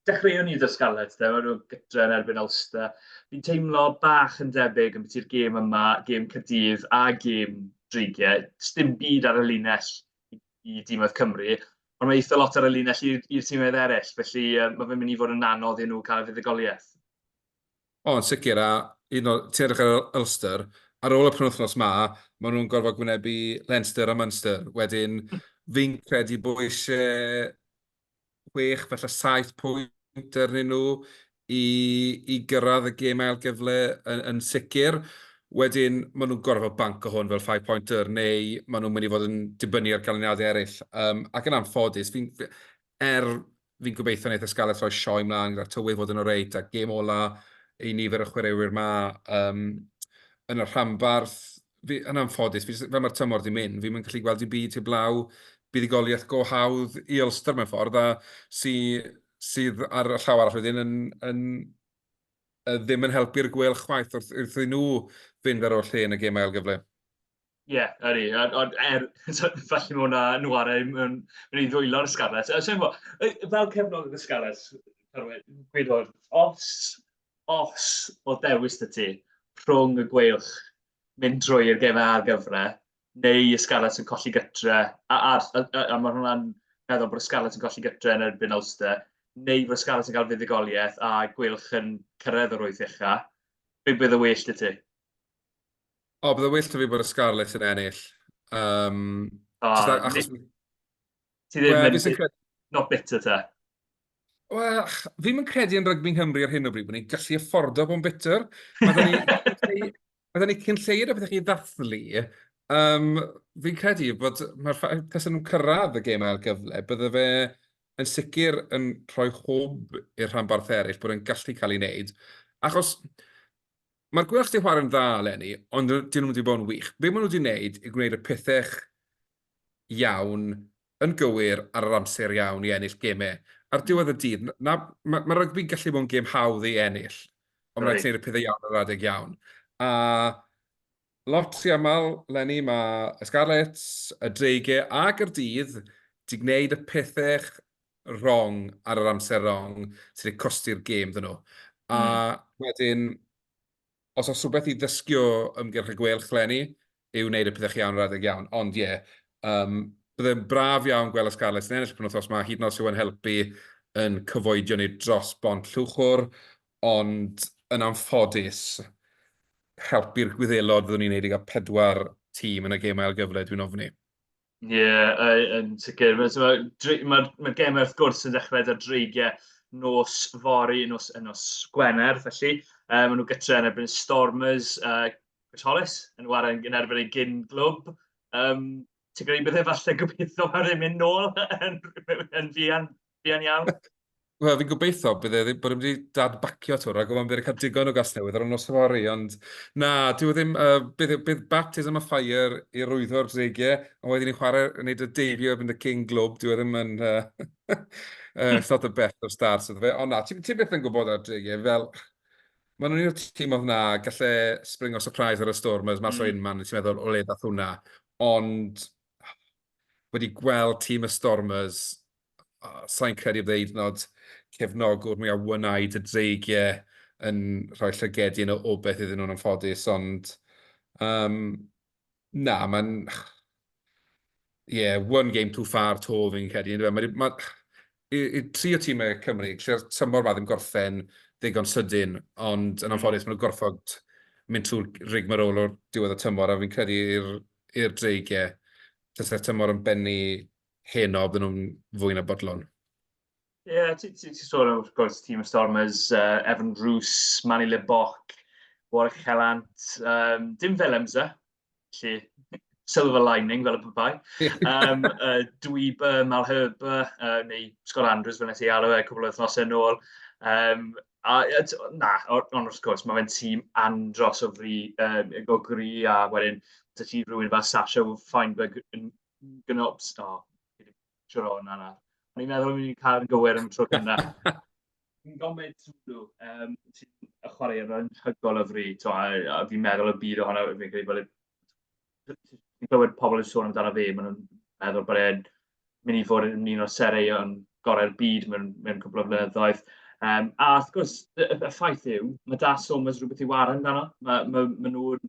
dechreuwn ni dda Scarlett, da, nhw gytra yn erbyn Ulster. Fi'n teimlo bach yn debyg yn beth i'r gêm yma, gêm Cydydd a gêm Dreigiau. Sdim byd ar y linell i dîmoedd Cymru, ond mae eitha lot ar y linell i'r tîmoedd eraill, felly mae fe'n mynd i fod yn anodd i nhw cael y fuddugoliaeth. O, yn sicr, a hyd yn oed ti'n edrych ar Ulster, ar ôl y penwythnos ma, maen nhw'n gorfod gwynebu Leinster a Munster. Wedyn, fi'n credu bod eisiau chwech, falle saith pwynt arnyn nhw i, i gyrraedd y gêm ail gyfle yn, yn sicr. Wedyn, maen nhw'n gorfod fel banc o hwn fel five pointer, neu maen nhw'n mynd i fod yn dibynnu ar ganlyniadau eraill. Um, ac yn anffodus, fi, er fi'n gobeithio wneud y Scarlets roi sioe mlaen gyda tywydd fod yn o reit, a gêm ola i nifer y chwaraewyr ma um, yn y rhanbarth, fi, yn anffodus, fi, fel mae'r tymor di mynd, fi'n mynd gallu gweld i byd heblaw buddugoliaeth go hawdd i Ulster mewn ffordd, a sy, sydd ar y llaw arall wedyn yn, yn, yn ddim yn helpu'r gwel chwaith wrth, wrth i nhw fynd ar ôl lle yn y gêm ail gyfle. Ie, yeah, yr i. Ond er, falle mae hwnna nhw ar ei mynd i ddwylo'r Scarlets. Fel cefnol y Scarlets, gwedodd, os os oedd dewis 'da ti rhwng y Gweilch mynd drwy i'r gem a'r gyfre, neu y Scarlets yn colli gytre, a, a, a, a, a mae hwnna'n meddwl bod y Scarlets yn colli gytre yn erbyn Ulster, neu bod y Scarlets yn cael fuddugoliaeth a Gweilch yn cyrraedd yr wyth ucha, be bydd y well da ti? O, bydd y well da fi bod y Scarlets yn ennill. Um, oh, achos... Ti ddim well, yn... Cred... Not bitter ta? Wel, fi'n mynd credu yn rygbi Nghymru ar hyn o bryd bod ni'n gallu affordo bod yn bitter. Mae ni cyn lleir o beth chi ddathlu. Um, fi'n credu bod mae'r ffaith tas nhw'n cyrraedd y gêm ail gyfle, bydde fe yn sicr yn rhoi hwb i'r rhanbarth eraill bod yn gallu cael ei wneud. Achos mae'r gwelch di chwarae'n dda eleni, ond dyn nhw wedi bod yn wych. Be maen nhw wedi wneud i gwneud y pethau iawn, yn gywir, ar yr amser iawn i ennill gemau. Ar diwedd y dydd, na, ma, ma rygbi'n gallu bod yn gêm hawdd ei ennill, ond mae rhaid gwneud y pethau iawn ar yr adeg iawn. A lot rhy aml, Lenny, mae y Scarlets, y Dreigiau a Gaerdydd di gwneud y pethau wrong ar yr amser wrong sydd wedi costi'r gêm dyn nhw. A mm. wedyn, os oes rhywbeth i ddysgu o ymgyrch y gwelch, Lenny, yw wneud y pethau chi iawn yr adeg iawn. Ond ie, yeah, um, byddai'n braf iawn gweld y Scarlets yn ennill y penwthos yma, hyd yn oes yw yn helpu yn cyfoedio ni dros bont llwchwr, ond yn anffodus, helpu'r gwyddelod fyddwn ni'n neud i gael pedwar tîm yn y gêm ail gyfle, dwi'n ofni. Ie, yy, yn sicr. Mae so mae'r dri mae'r mae'r gemau wrth gwrs yn dechrau 'da dreigiau nos fory, nos y nos Gwener felly. Yy, maen nhw gytre yn erbyn Stormers, yy, Gristnoles yn ware yn erbyn eu gyn-glwb. Yym, ti'n credu bydd e falle gobeitho ar ei mynd nôl yn yn fuan? Buan iawn. Wel, fi'n gobeithio bydd e ddim bod wedi dad-bacio to, rhaid gofyn bydd wedi cael digon o gasnewydd ar y nos yfory, ond na, dyw e ddim, uh, bydd, e, bydd baptism a ffair i rwyddo'r dreigiau, ond wedyn ni'n chwarae, yn neud y deifio yn y King Globe, dyw e ddim yn, uh, uh, it's not the best of starts, ydw fe, ond na, ti'n ti byth yn gwybod ar dreigiau, fel, Mae nhw'n un tîm oedd na, gallai spring o surprise ar y storm, mae mm. o un man, ti'n meddwl, o le dath hwnna. Ond, wedi gweld tîm y Stormers, sain credu bod e hyd yn oed cefnogwr mwyaf wnaed y dreigie yn rhoi llygedi yn o beth iddyn nhw'n anffodus, ond um, na, mae'n... Ie, yeah, one game too far to fi'n credu. Mae, mae, mae, i tri o tîmau Cymru, lle'r tymor ma ddim gorffen ddigon sydyn, ond yn anffodus maen nhw'n gorfod mynd trwy'r rigmarole o'r diwedd y tymor, a fi'n credu i'r i'r dreigiau tasa tymor yn bennu heno bydden nhw'n fwy na bodlon? Ie, yeah, ti'n ti, ti sôn wrth gwrs tîm y Stormers, uh, Evan Roos, Manny Le Boc, Warwick Hellant, um, dim fel Emsa, lle silver lining fel y pethau. um, uh, Dweeber, Malherber, uh, neu Scott Andrews fel nes i alw e cwbl o wythnosau yn ôl. Um, A, na, ond wrth gwrs, mae fe'n tîm andros o fri, um, o gri, a wedyn, dy ti rhywun fel Sasha Feinberg yn gynobs, o, oh, siwr o'n yna. O'n i'n meddwl o'n i'n cael yn gywir yn y tro gynna. Yn gofyd sŵlw, um, ti'n chwarae yn hygol o fri, to, a, a fi'n meddwl y byd ohono, fi'n credu bod y Dwi'n clywed pobl yn sôn amdano fe, maen nhw'n meddwl bod e'n mynd i fod yn un o'r sereuon gorau'r byd mewn, mewn cwbl o flynyddoedd. Um, a wrth gwrs, y, y ffaith yw, mae Da Somers rhywbeth i waran amdano. Mae, mae, mae nhw'n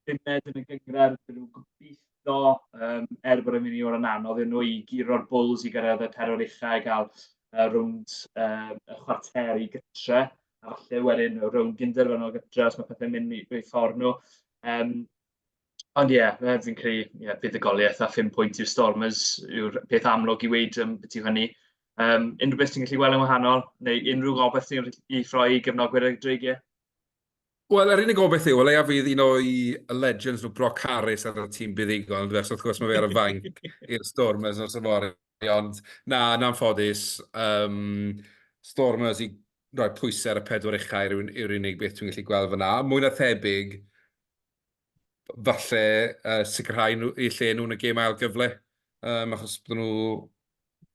bumed yn y gyngred, maen nhw'n gobeithio, um, er bod yn mynd i o'r anodd yn nhw i giro'r bwls i gyrraedd y perwyl uchau a gael uh, rwnd uh, y chwarter i gytre. a falle wedyn o rownd ginder fan o'n gytra os mae pethau'n mynd i roi ffordd nhw. Um, Ond ie, yeah, mae fi'n credu, ie, yeah, buddugoliaeth a 5 pwynt i'r Stormers yw'r peth amlwg i weid um, beth yw hynny. Um, unrhyw beth ti'n gallu gweld yn wahanol, neu unrhyw gobeith ti'n gallu ffroi i gefnogwyr y dreigiau? Wel, yr unig gobeith yw, leia fydd un o'i legends nhw, Brock Harris, ar y tîm buddigol, ond wrth gwrs mae fe ar y fainc i'r Stormers nos yma. Ond na, yn anffodus, um, Stormers i roi pwysau ar y pedwar uchau yw'r unig beth dwi'n gallu gweld fyna. Mwy na thebyg, falle uh, sicrhau nhw, i lle nhw'n y gêm ail gyfle, um, achos bod nhw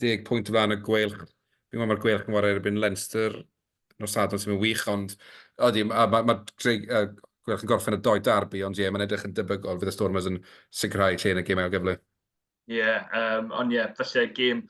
deg pwynt o flaen y gweilch. Fi'n meddwl mae'r gweilch yn war erbyn Leinster nos Sadwrn sy'n mynd wych, ond ydy, mae ma, ma, uh, gweilch yn gorffen y doi darbu, ond ie, yeah, mae'n edrych yn debygol fydd y Stormers yn sicrhau lle yn y gêm ail gyfle. Ie, yym, ond ie, falle gêm...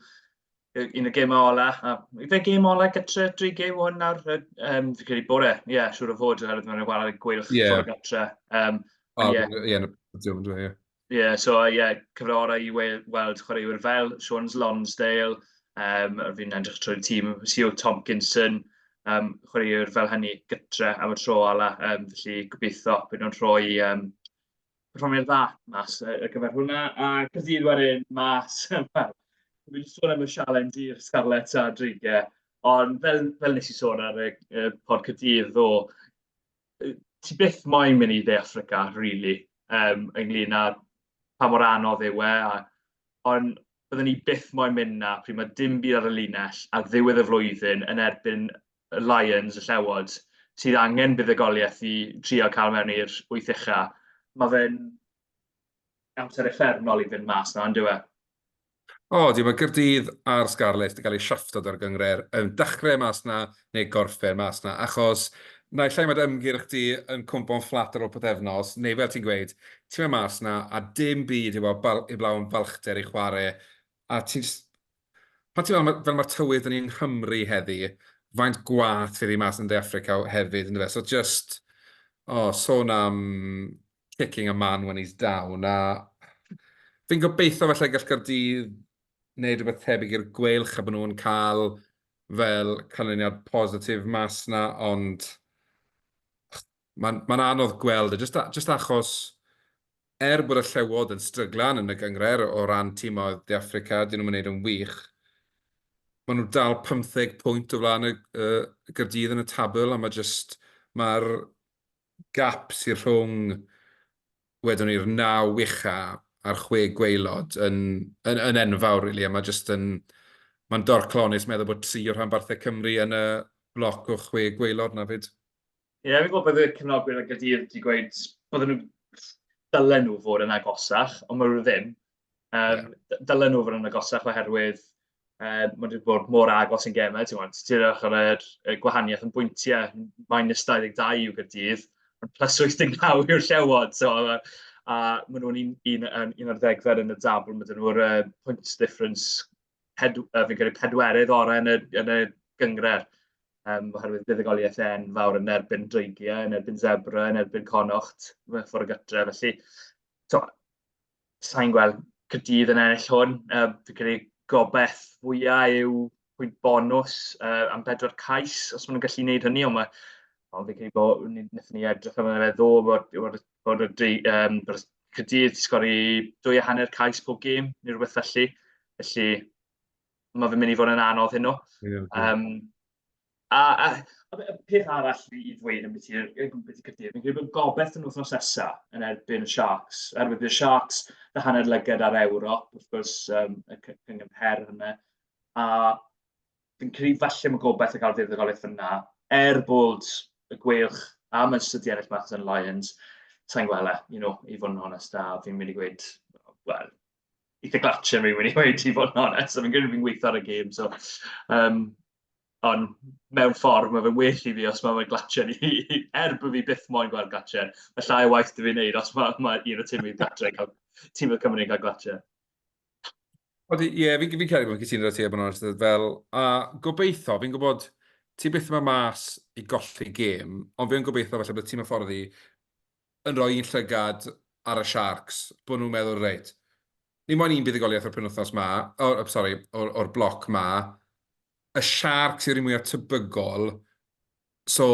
un o gemau ola', a ife gêm ola' gytre dri gêm hwn nawr? Yy yym fi'n credu bore, ie, siŵr o fod oherwydd maen nhw'n chwarae Gweilch Ie. tro gytre. Yym O, ie. ie, yn y podiwm yndyw e, ie. ie, so ie, cyfle orau i wel- weld chwaraewyr fel Siôn Lonsdale, yym fi'n edrych trwy'r tîm, Sio Tomkinson, yym chwaraewyr fel hynny gytre am y tro ola', yym felly gobeitho bydd nhw'n rhoi yym performiad dda mas ar y gyfer hwnna. A Caerdydd wedyn mas, wel, dwi wedi sôn am y sialens i'r Scarlets a Dreigiau, ond fel, fel nes i sôn ar y, y pod Caerdydd ddo, ti byth moyn mynd i De Africa, really, um, ynglyn â pa mor anodd yw e, a, ond byddwn ni byth moyn mynd na, pryd mae dim byd ar y linell a ddiwedd y flwyddyn yn erbyn y Lions, y Llewod, sydd angen buddugoliaeth i trio cael mewn i'r wyth ucha. Mae fe'n amser effernol i fynd mas na, ynddo e? O, di, mae Gyrdydd a'r Scarlets wedi cael eu siafftod ar gyngred yn dechrau mas na neu gorffen mas na, achos na i llai mae dy ymgyrch di yn cwmpo'n fflat ar ôl pythefnos, neu fel ti'n gweud, ti'n mynd mas na a dim byd heblaw am falchder i chwarae, a ti'n Pan ti'n meddwl, fel mae'r tywydd dyn ni'n Nghymru heddi, faint gwath fydd hi mas yn De Affrica hefyd, ynddo fe? So just, o, oh, sôn am kicking a man when he's down, a fi'n gobeithio falle gall Gardydd wneud rhywbeth tebyg i'r gweilch a bod nhw'n cael fel canlyniad positif mas na, ond mae'n ma anodd gweld, e, just, just achos er bod y llewod yn stryglan yn y gyngred o ran tîmoedd De Africa, dyn nhw'n mynd yn wych, maen nhw dal 15 pwynt o flaen y, y gyrdydd yn y tabl, a mae just, mae'r gap sy'n rhwng, wedwn ni'r naw wicha a'r chwe gweilod yn, yn, yn enfawr, really, a mae just yn, mae'n dorclonus meddwl bod tri o rhanbarthau Cymru yn y bloc o chwe gweilod na fyd. Ie, fi'n gwybod bod y cefnogwyr y Gadeirn 'di gweud bod nhw... dylen nhw fod yn agosach, ond maen nhw ddim. Yym dylen nhw fod yn agosach oherwydd yym maen nhw 'di bod mor agos yn gemau, ti'n gwybod. Ti'n edrych ar yr y gwahaniaeth yn bwyntiau, minus 22 yw Gaerdydd, ond plus 89 yw'r Llewod, so yy a maen nhw'n un un yym un ar ddegfed yn y tabl, ma' 'da nhw'r yy points difference ped, uh, fi'n credu pedwerydd orau yn y, yn y gyngred. Um, oherwydd buddigoliaeth e'n fawr yn erbyn dreigiau, yn erbyn zebra, yn erbyn conocht, mewn ffordd gytre. Felly, to, sa'n gweld cydydd yn ennill hwn. Uh, fi'n credu gobeith fwyaf yw pwynt bonus uh, am bedwar cais, os maen nhw'n gallu gwneud hynny, ond mae Ond fi'n credu bod, wnaethon ni edrych am yna fe ddo, bod, bod bod y dy, um, cydydd sgori dwy a hanner cais pob gêm neu rhywbeth felly. Felly mae fe'n mynd i fod yn anodd hyn o. Yeah, yeah. Um, a, a, a, a peth arall i ddweud yn beth i'r cydydd, fi'n credu bod gobeith yn wythnos nesa yn erbyn y Sharks. Erbyn bydd y Sharks y hanner lyged ar Ewrop, wrth gwrs, um, y cyngor her hynny. A fi'n credu falle mae'n gobeith y cael deuddegoliaeth yna, er bod y gweilch a Manchester City ennill Maths and Lions, sa'n gwele, you know, i fod yn honest, a fi'n mynd i gweud, wel, eitha glatio fi'n mynd i gweud i fod yn honest, so fi'n gwneud fi'n gweithio ar y gêm, so, um, ond mewn ffordd mae fe'n well i fi os mae fe'n glatio ni, er bod fi byth moyn gweld glatio, mae llai o waith dwi fi'n neud os mae, mae un o tîm i'n glatio, tîm o Cymru'n cael glatio. Ie, yeah, fi'n fi credu bod ti'n rhaid ti, bod yn onest, fel, a gobeithio, fi'n gwybod, ti beth yma mas i golli gêm, ond fi'n gobeithio felly bod ti'n hyfforddi yn rhoi un llygad ar y Sharks, bod nhw'n meddwl, reit, ni moyn un buddigoliaeth o'r penwthnos ma, or, oh, sorry, o'r, or bloc ma, y Sharks yw'r un mwyaf tybygol, so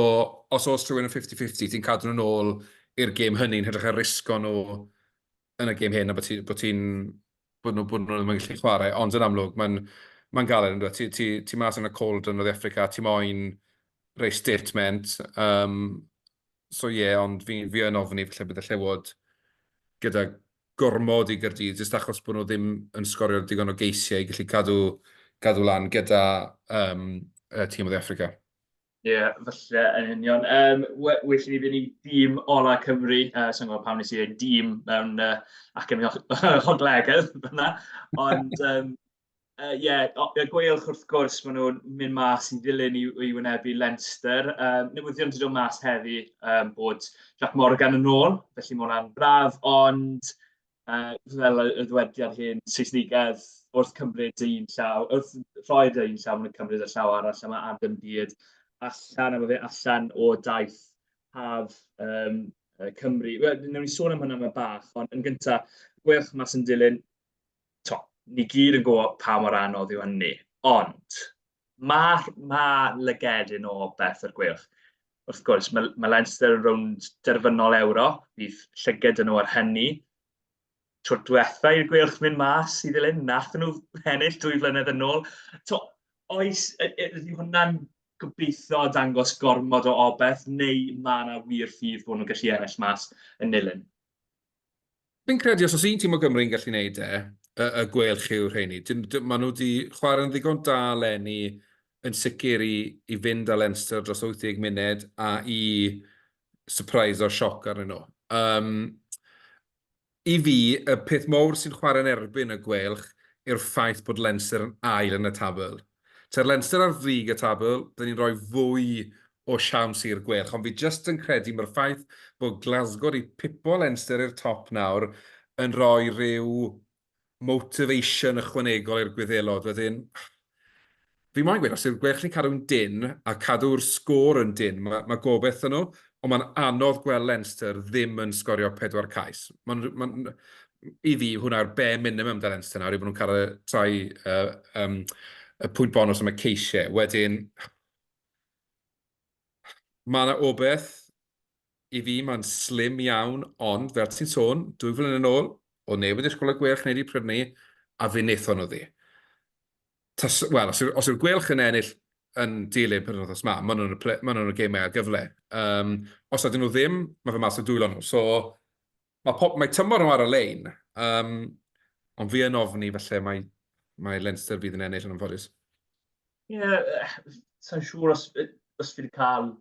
os oes rhywun yn 50-50, ti'n cadw nhw'n ôl i'r gêm hynny'n hydrych ar risgo nhw yn y gêm hyn, a bod ti'n... Bod, ti, bod nhw bod nhw ddim yn gallu chwarae, ond yn amlwg, mae'n ma galed yn dweud. Ti, ti, ti mas yn y cold yn oedd Africa, ti moyn rei statement. Um, so ie, yeah, ond fi, fi yn ofni felly bydd y llewod gyda gormod i gyrdydd, jyst achos bod nhw ddim yn sgorio digon o geisiau i gallu cadw, cadw lan gyda um, y tîm oedd Africa. Ie, falle yn union. Yym, we- well i ni fynd i dîm ola Cymru. Yy, sa i'n gwbod pam wnes i ddweud dîm mewn yy acen o- hoglegedd fan'na. Ond yym yy ie, o- y Gweilch wrth gwrs, maen nhw'n mynd mas i ddilyn i i wynebu Leinster. Yym, newyddion 'di dod mas heddi yym bod Jac Morgan yn ôl, felly ma' hwnna'n braf. Ond yy fel y ddywediad hen Saesnigedd, wrth cymryd dy un llaw, wrth rhoi dy un llaw maen nhw'n cymryd y llaw arall a mae Adam Bede allan a mae fe allan o daith haf um, Cymru. Wel, newn ni sôn am hynna mae bach, ond yn gyntaf, gweilch mas yn dilyn, to, ni gyd yn gwybod pa mor anodd yw hynny, ond mae ma lygedyn o beth yr gweilch. wrth gwrs, mae, mae Leinster yn rownd derfynol Ewrop, bydd llyged yn nhw ar hynny. Trwy'r diwetha i'r gwylch mynd mas i ddilyn, nath nhw ennill dwy flynedd yn ôl. To, oes, ydy hwnna'n gobeithio dangos gormod o obeth, neu mae yna wir ffydd bod nhw'n gallu ennill mas yn nilyn? Fi'n credu os oes un tîm o Gymru yn gallu gwneud e, y, y gwelch yw rheini. Maen nhw wedi chwarae yn ddigon da lenni yn sicr i, i fynd â Leinster dros 80 munud a i surprise o'r sioc arnyn nhw. Um, I fi, y peth mowr sy'n chwarae'n erbyn y gwelch yw'r ffaith bod Leinster yn ail yn y tabl. Tair Leinster ar frig y tabl, dyn ni'n rhoi fwy o siawns i'r Gweilch, ond fi jyst yn credu mae'r ffaith bod Glasgow wedi pipo Leinster i'r top nawr yn rhoi rhyw motivation ychwanegol i'r Gwyddelod, wedyn fi moyn gweud os yw'r Gweilch yn cadw'n dynn a cadw'r sgôr yn dynn, mae gobeith 'da nhw, Ond mae'n anodd gweld Leinster ddim yn sgorio pedwar cais. Mae'n, mae'n, I fi, hwnna yw'r bare minimum da Leinster nawr, yw bod nhw'n cael y trai uh, um, y pwynt bonus am y ceisiau. Wedyn, mae yna obeth, i fi mae'n slim iawn, ond fel ti'n sôn, dwy flynedd yn ôl, o neb yn disgwyl y gwelch wneud i Pryfni, a fe wnaethon nhw ddi. Tas, wel, os yw'r yw gwelch yn ennill yn dilyn pen wythnos ma, maen nhw'n y gemau ar gyfle. Um, os ydyn nhw ddim, mae fe mas o dwylo nhw. So, mae, pop, mae tymor nhw ar y lein, um, ond fi yn ofni felly mae, mae Leinster fydd yn ennill yn ymfodus. Ie, yeah, sa'n siŵr os, os fi wedi cael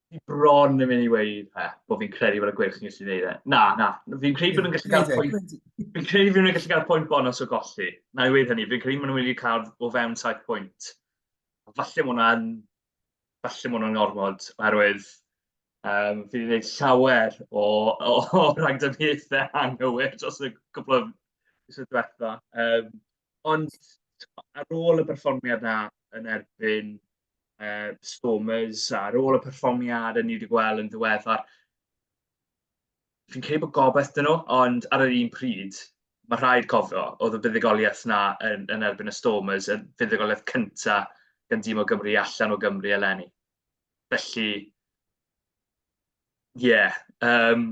fi bron yn mynd i weid e, bod fi'n credu bod y gwirch yn gallu gwneud e. Na, na, fi'n credu bod nhw'n gallu cael pwynt... Fi'n credu bod nhw'n gallu cael pwynt bonus o golli. Na i weid hynny, fi'n credu bod nhw'n wedi cael o fewn 7 pwynt. Falle bod hwnna'n... Falle bod hwnna'n ormod, oherwydd um, fi wedi gwneud llawer o, o, o ragdyniaethau anghywir dros y cwbl o fusau diwetha. Um, ond ar ôl y perfformiad na yn erbyn uh, performers ar ôl y perfformiad ni wedi gweld yn ddiweddar. Fi'n credu bod gobeith dyn nhw, ond ar yr un pryd, mae rhaid cofio, oedd y buddigoliaeth na yn, yn erbyn y Stormers, y buddigoliaeth cynta gan dîm o Gymru allan o Gymru eleni. Felly, ie, yeah, um,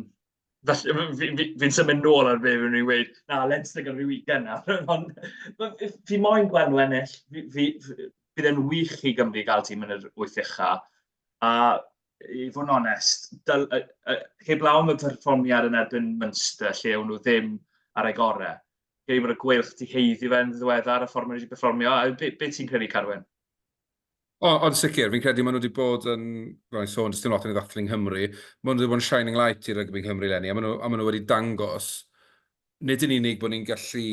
Felly, fi'n fi, fi, fi symud nôl ar be fi'n rwy'n gweud, na, let's stick ar y weekend nawr. Ond fi moyn gweld nhw ennill. Fi, fi, fi, bydd e'n wych i Gymru gael tîm yn yr wyth ucha. A i fod yn onest, dyl, uh, uh, heb law am y perfformiad yn erbyn Munster, lle o'n nhw ddim ar ei gorau. Gei fod y gweilch di heiddi fe'n ddiweddar y ffordd maen nhw wedi perfformio. Be, be ti'n credu, Carwyn? O, ond sicr, fi'n credu maen nhw wedi bod yn, fel i'n sôn, dys dim lot yn ei ddathlu yng Nghymru, maen nhw wedi bod yn shining light i rygbi yng Nghymru lenni, a maen nhw, a maen nhw wedi dangos nid yn unig bod ni'n gallu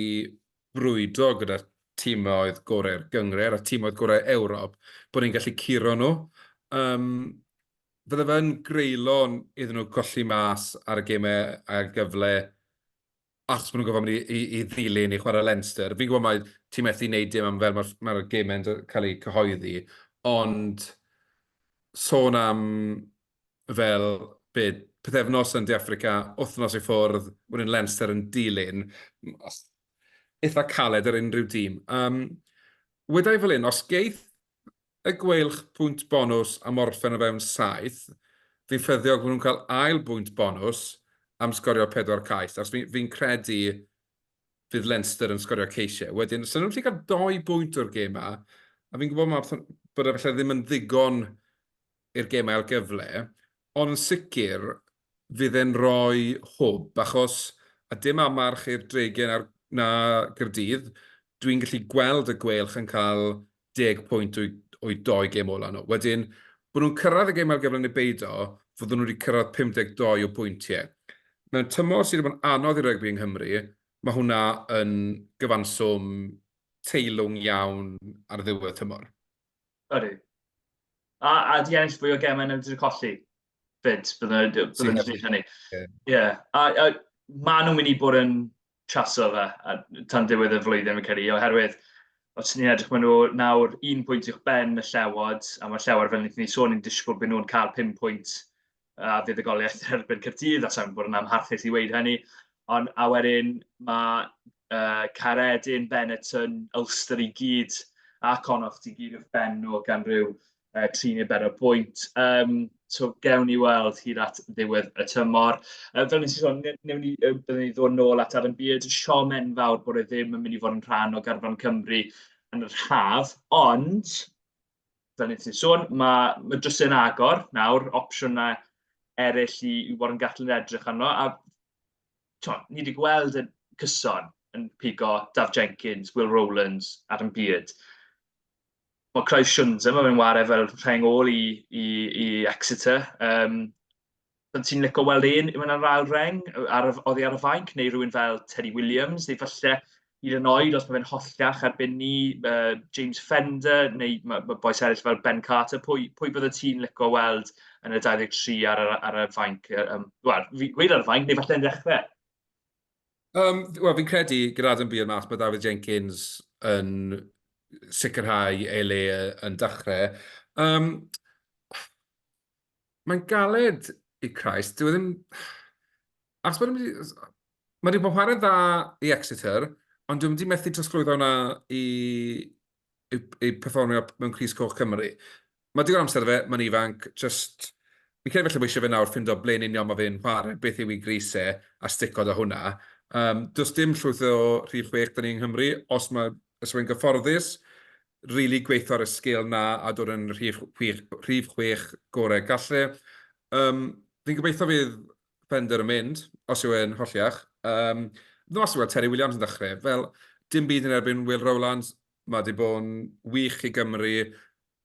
brwydo gyda'r tîmoedd gorau'r gyngred a tîmoedd gorau Ewrop, bod ni'n gallu curo nhw. Um, fydde fe'n greulon iddyn nhw colli mas ar y gemau a'r gyfle achos bod nhw'n gofod mynd i, i, i ddilyn i chwarae Leinster. Fi'n gwybod mae ti methu wneud dim am fel mae'r mae, mae gemau'n cael eu cyhoeddi, ond sôn am fel byd pethefnos yn De Africa, wythnos i ffwrdd, wedyn Leinster yn dilyn, eitha caled ar unrhyw dîm. Um, Wydau fel un, os geith y gweilch bwynt bonws am orffen o fewn saith fi'n ffyddiog fod nhw'n cael ail bwynt bonws am sgorio pedwar cais achos fi'n fi credu fydd Leinster yn sgorio ceisiau. Wedyn, sy'n nhw'n gallu cael doi bwynt o'r gêm yma, a fi'n gwybod mae, bod efallai ddim yn ddigon i'r gêm ail gyfle, ond yn sicr, fydd e'n rhoi hwb achos a dim amarch i'r Dregyn a'r na Caerdydd, dwi'n gallu gweld y Gweilch yn cael deg pwynt o'u o'u dou gêm ola' nhw. Wedyn, bod nhw'n cyrraedd y gêm ar gyfer ne' beido, fydden nhw wedi cyrraedd 52 o bwyntie. Mewn tymor sydd wedi bod yn anodd i rygbi yng Nghymru, mae hwnna yn gyfanswm teilwng iawn ar ddiwedd tymor. Ydy. A a 'di ennill fwy o gemau na fedri colli. 'fyd, bydden nhw wedi bydden nhw wedi deud hynny. Ie, a a maen nhw'n mynd i bod yn chaso fe a tan ddiwedd y flwyddyn fi'n credu, oherwydd os ni'n edrych maen nhw nawr un pwynt i'ch ben y llewod, a mae'r llewod fel wnaethon ni sôn yn disgwyl bod nhw'n cael pum pwynt a fydd y goliaeth yn erbyn Cyrdydd, a sa'n bod yn amharchus i weud hynny, ond a wedyn mae uh, Caredin, Benetton, Ulster i gyd a Connacht i gyd wrth ben nhw gan rhyw uh, tri neu bedair bwynt. Um, so, gewn ni weld hyd at ddiwedd y tymor. Uh, fel nes i sôn, newn ni, uh, byddwn ni ddod nôl at ar yn byd. Siom enfawr bod e ddim yn mynd i fod yn rhan o garfan Cymru yn yr haf, ond, fel nes i sôn, mae, mae drws yn agor nawr, opsiynau eraill i, i Warren Gatlin edrych arno, a to, ni wedi gweld y cyson yn pigo Daf Jenkins, Will Rowlands ar yn byd. Mae Craig Shunza, mae fe'n ware fel rheng ôl i, i, i Exeter. Um, Bydd ti'n licio weld un yn yr ail reng, ar, oddi ar y fainc, neu rhywun fel Teddy Williams, neu falle hyd yn oed os mae fe'n hollach erbyn ni, uh, James Fender, neu mae, mae boes eraill fel Ben Carter, pwy, pwy bydde ti'n licio weld yn y 23 ar, ar, ar y fainc? Um, Wel, fi gweud ar y fainc, neu falle yn ddechrau. Um, Wel, fi'n credu gyda Adam Beale mas, mae David Jenkins yn sicrhau ei le yn dechrau. Um, Mae'n galed i Christ, dwi e ddim... Achos mae'n wedi... Mae wedi bod chwarae dda i Exeter, ond dwi'n wedi methu trosglwyddo hwnna i, i, i performio mewn Cris Coch Cymru. Mae digon amser fe, mae'n ifanc, just... Fi'n credu felly mae eisiau fe nawr ffindo ble'n union mae fe'n chwarae, beth yw i gris e, a sticod o hwnna. Um, does dim llwyth o rhif chwech dyn ni yng Nghymru, os mae os mae'n gyfforddus, rili really gweithio ar y sgil na a dod yn rhif chwech, rhif chwech gorau gallu. Um, fi'n gobeithio fydd Fender yn mynd, os yw e'n holliach. Um, ddim os yw Terry Williams yn dechrau. Fel, dim byd yn erbyn Will Rowlands. Mae wedi bod yn wych i Gymru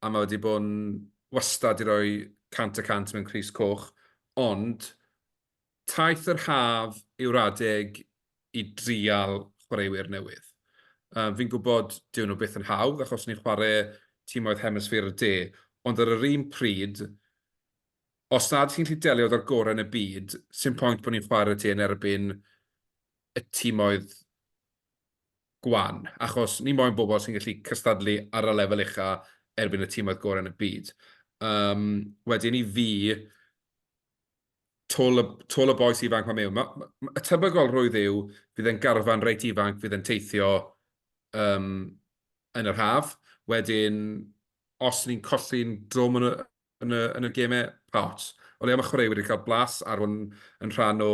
a mae wedi bod yn wastad i roi cant y cant mewn Cris Coch. Ond, taith yr haf yw'r adeg i drial chwaraewyr newydd. Um, fi'n gwybod dyw nhw byth yn hawdd achos ni'n chwarae tîm oedd hemisffer y de, ond ar yr un pryd, os nad chi'n gallu delio efo'r gorau yn y byd, sy'n pwynt bod ni'n chwarae ti yn erbyn y timoedd gwan, achos ni moyn bobl sy'n gallu cystadlu ar y lefel ucha erbyn y timoedd gorau yn y byd. Um, wedyn i fi, tol y, tol y boes ifanc mae mewn. Mae, mae, y tebygol rwydd yw, fydd e'n garfan reit ifanc, fydd e'n teithio um, yn yr haf. Wedyn, os ni'n colli'n drwm yn y, yn y, yn y gemau pawt. O leia mae chwaraewyr wedi cael blas ar hwn yn rhan o,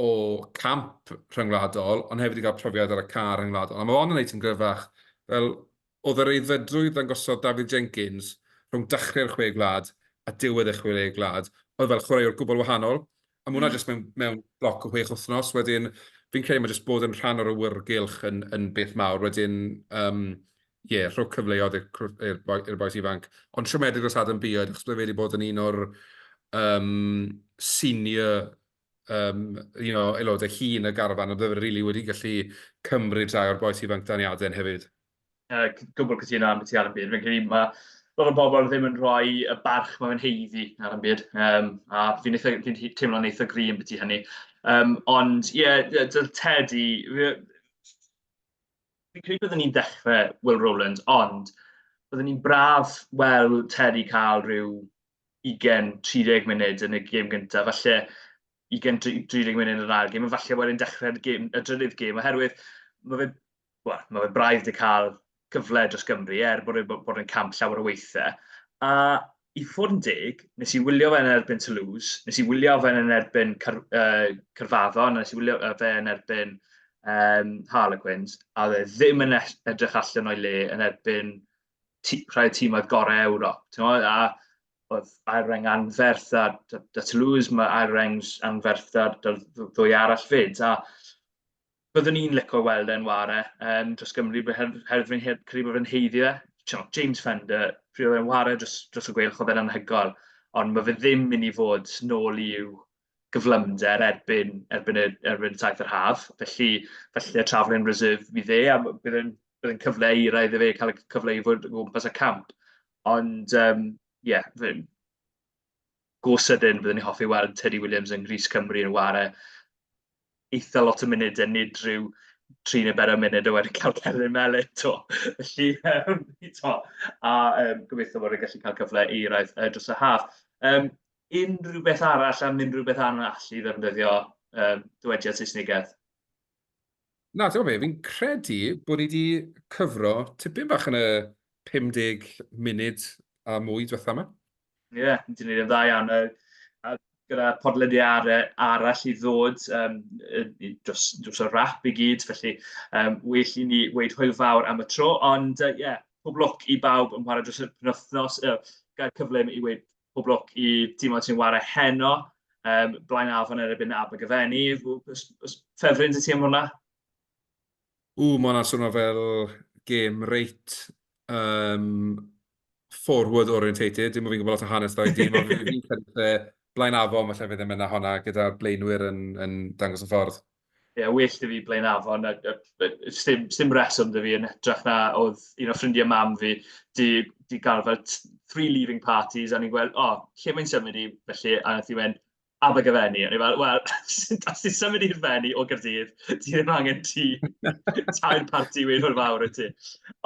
o camp rhyngwladol, ond hefyd wedi cael profiad ar y car rhyngwladol. A mae hon yn ei ti'n gryfach, fel oedd yr eiddfedrwydd ddangosodd Dafydd Jenkins rhwng dachrau'r chwe gwlad a diwedd y chwe gwlad, oedd fel chwaraewr gwbl wahanol, A mae hwnna jyst mewn, mewn bloc o chwech wythnos. Wedyn, fi'n credu mae jyst bod yn rhan o'r awyrgylch yn, yn beth mawr. Wedyn, um, ie, yeah, rhoi cyfleoedd i'r boes ifanc. Ond siomedig dros Adam Bioed, achos bod e wedi bod yn un o'r um, senior um, you know, aelodau hun y garfan, a byddai wedi gallu cymryd rhai o'r boes ifanc daniadau hefyd. uh, gwbl cytuno am beth i ar y byd. Fi'n credu mae lot o bobl ddim yn rhoi y barch mae'n heiddi ar y byd. Um, a fi'n fi teimlo'n eitha gri yn beth i hynny. Um, ond ie, yeah, dyl Teddy, fi'n credu byddwn ni'n dechrau Will Rowland, ond byddwn ni'n braf weld Teddy cael rhyw 20-30 munud yn y gêm gyntaf, falle 20-30 munud yn yr ail gêm, a falle wedyn dechrau'r gêm, y drydydd gêm, oherwydd mae fe wel, mae fe braidd wedi cael cyfle dros Gymru, er bod wedi bod yn camp llawer o weithiau. A i fod yn deg, nes i wylio fe yn erbyn Toulouse, nes i wylio fe yn erbyn Car uh, Carfaddon, nes i wylio fe yn erbyn um, Harlequins, a dde ddim yn edrych allan o'i le yn erbyn rhai tîmoedd gorau Ewrop. A oedd Aereng anferth a da Toulouse, mae Aereng anferth a ddwy arall fyd. A Byddwn i'n licio weld e'n ware yym dros Gymru b- her- oherwydd fi'n he- credu bod fe'n haeddu e. Timod, James Fender, pryd oedd e'n ware dros dros y Gweilch oedd e'n anhygoel, ond ma' fe ddim mynd i fod nôl i'w gyflymder erbyn erbyn y erbyn y taith yr haf, felly falle Travelling Reserve fydd e, a b- bydd e'n bydd e'n cyfle i ra iddo fe cael y c- cyfle i fod o gwmpas y camp. Ond yym ie, fe- go sydyn, byddwn i'n hoffi weld Teddy Williams yng Nghrys Cymru yn ware eitha lot o munud, a nid rhyw tri neu bedair munud a wedyn cael celyn melyn to. Felly, um, to. a um, gobeithio bod yn gallu cael cyfle i rhaid uh, dros y haf. Um, unrhyw beth arall am unrhyw beth arall i ddefnyddio um, dywediad Saesnigedd? Na, ti'n gwybod be, fi'n credu bod ni wedi cyfro tipyn bach yn y 50 munud a mwy diwetha yma. Ie, yeah, ti'n gwneud yn dda iawn. A gyda podlediad arall i ddod um, dros, dros y rap i gyd, felly um, well i ni weid hwyl fawr am y tro, ond ie, uh, yeah, pob lwc i bawb yn chwarae dros y penwthnos, uh, gael cyfle i weid pob lwc i tîmau sy'n ware heno, um, blaen afon erbyn Abergyfenni. Ffefryn i ti am hwnna? Ww, mae hwnna'n swnio fel gêm reit um, forward orientated. Dim ond fi'n gwybod lot o hanes dau dîm, ond fi'n credu lle blaen afon, mae lle fe ddim yna honna gyda'r blaenwyr yn, yn dangos y ffordd. Ie, yeah, well da fi Blaen Afon, a, a, a sdim, sdim reswm da fi yn hytrach na oedd un o ffrindiau mam fi di, di gael fel three leaving parties, a ni'n gweld, o, oh, lle mae'n symud i, felly, a nath i wend, Abergavenny, a ni'n fel, wel, os ti'n symud i'r fenni o Gyrdydd, ti ddim angen ti, tair party wyn o'r fawr y ti.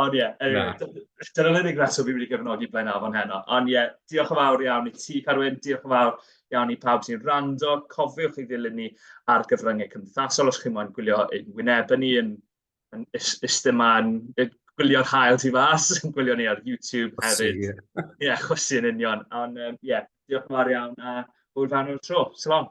Ond ie, anyway, dyna'r unig reswm fi wedi cyfnodi Blaen Afon heno. Ond ie, diolch yn fawr iawn i ti, Carwyn, diolch yn fawr Iawn i pawb sy'n rando, cofiwch i ddilyn ni ar gyfryngau cymdeithasol os chi'n moyn gwylio ein wynebau ni yn, yn ystym yn gwylio'r hael tu fas, yn gwylio ni ar YouTube hefyd. Ie, yeah, chwysu yn union. Ond ie, um, yeah, diolch yn fawr iawn a hwyl fan o'r tro. Salam.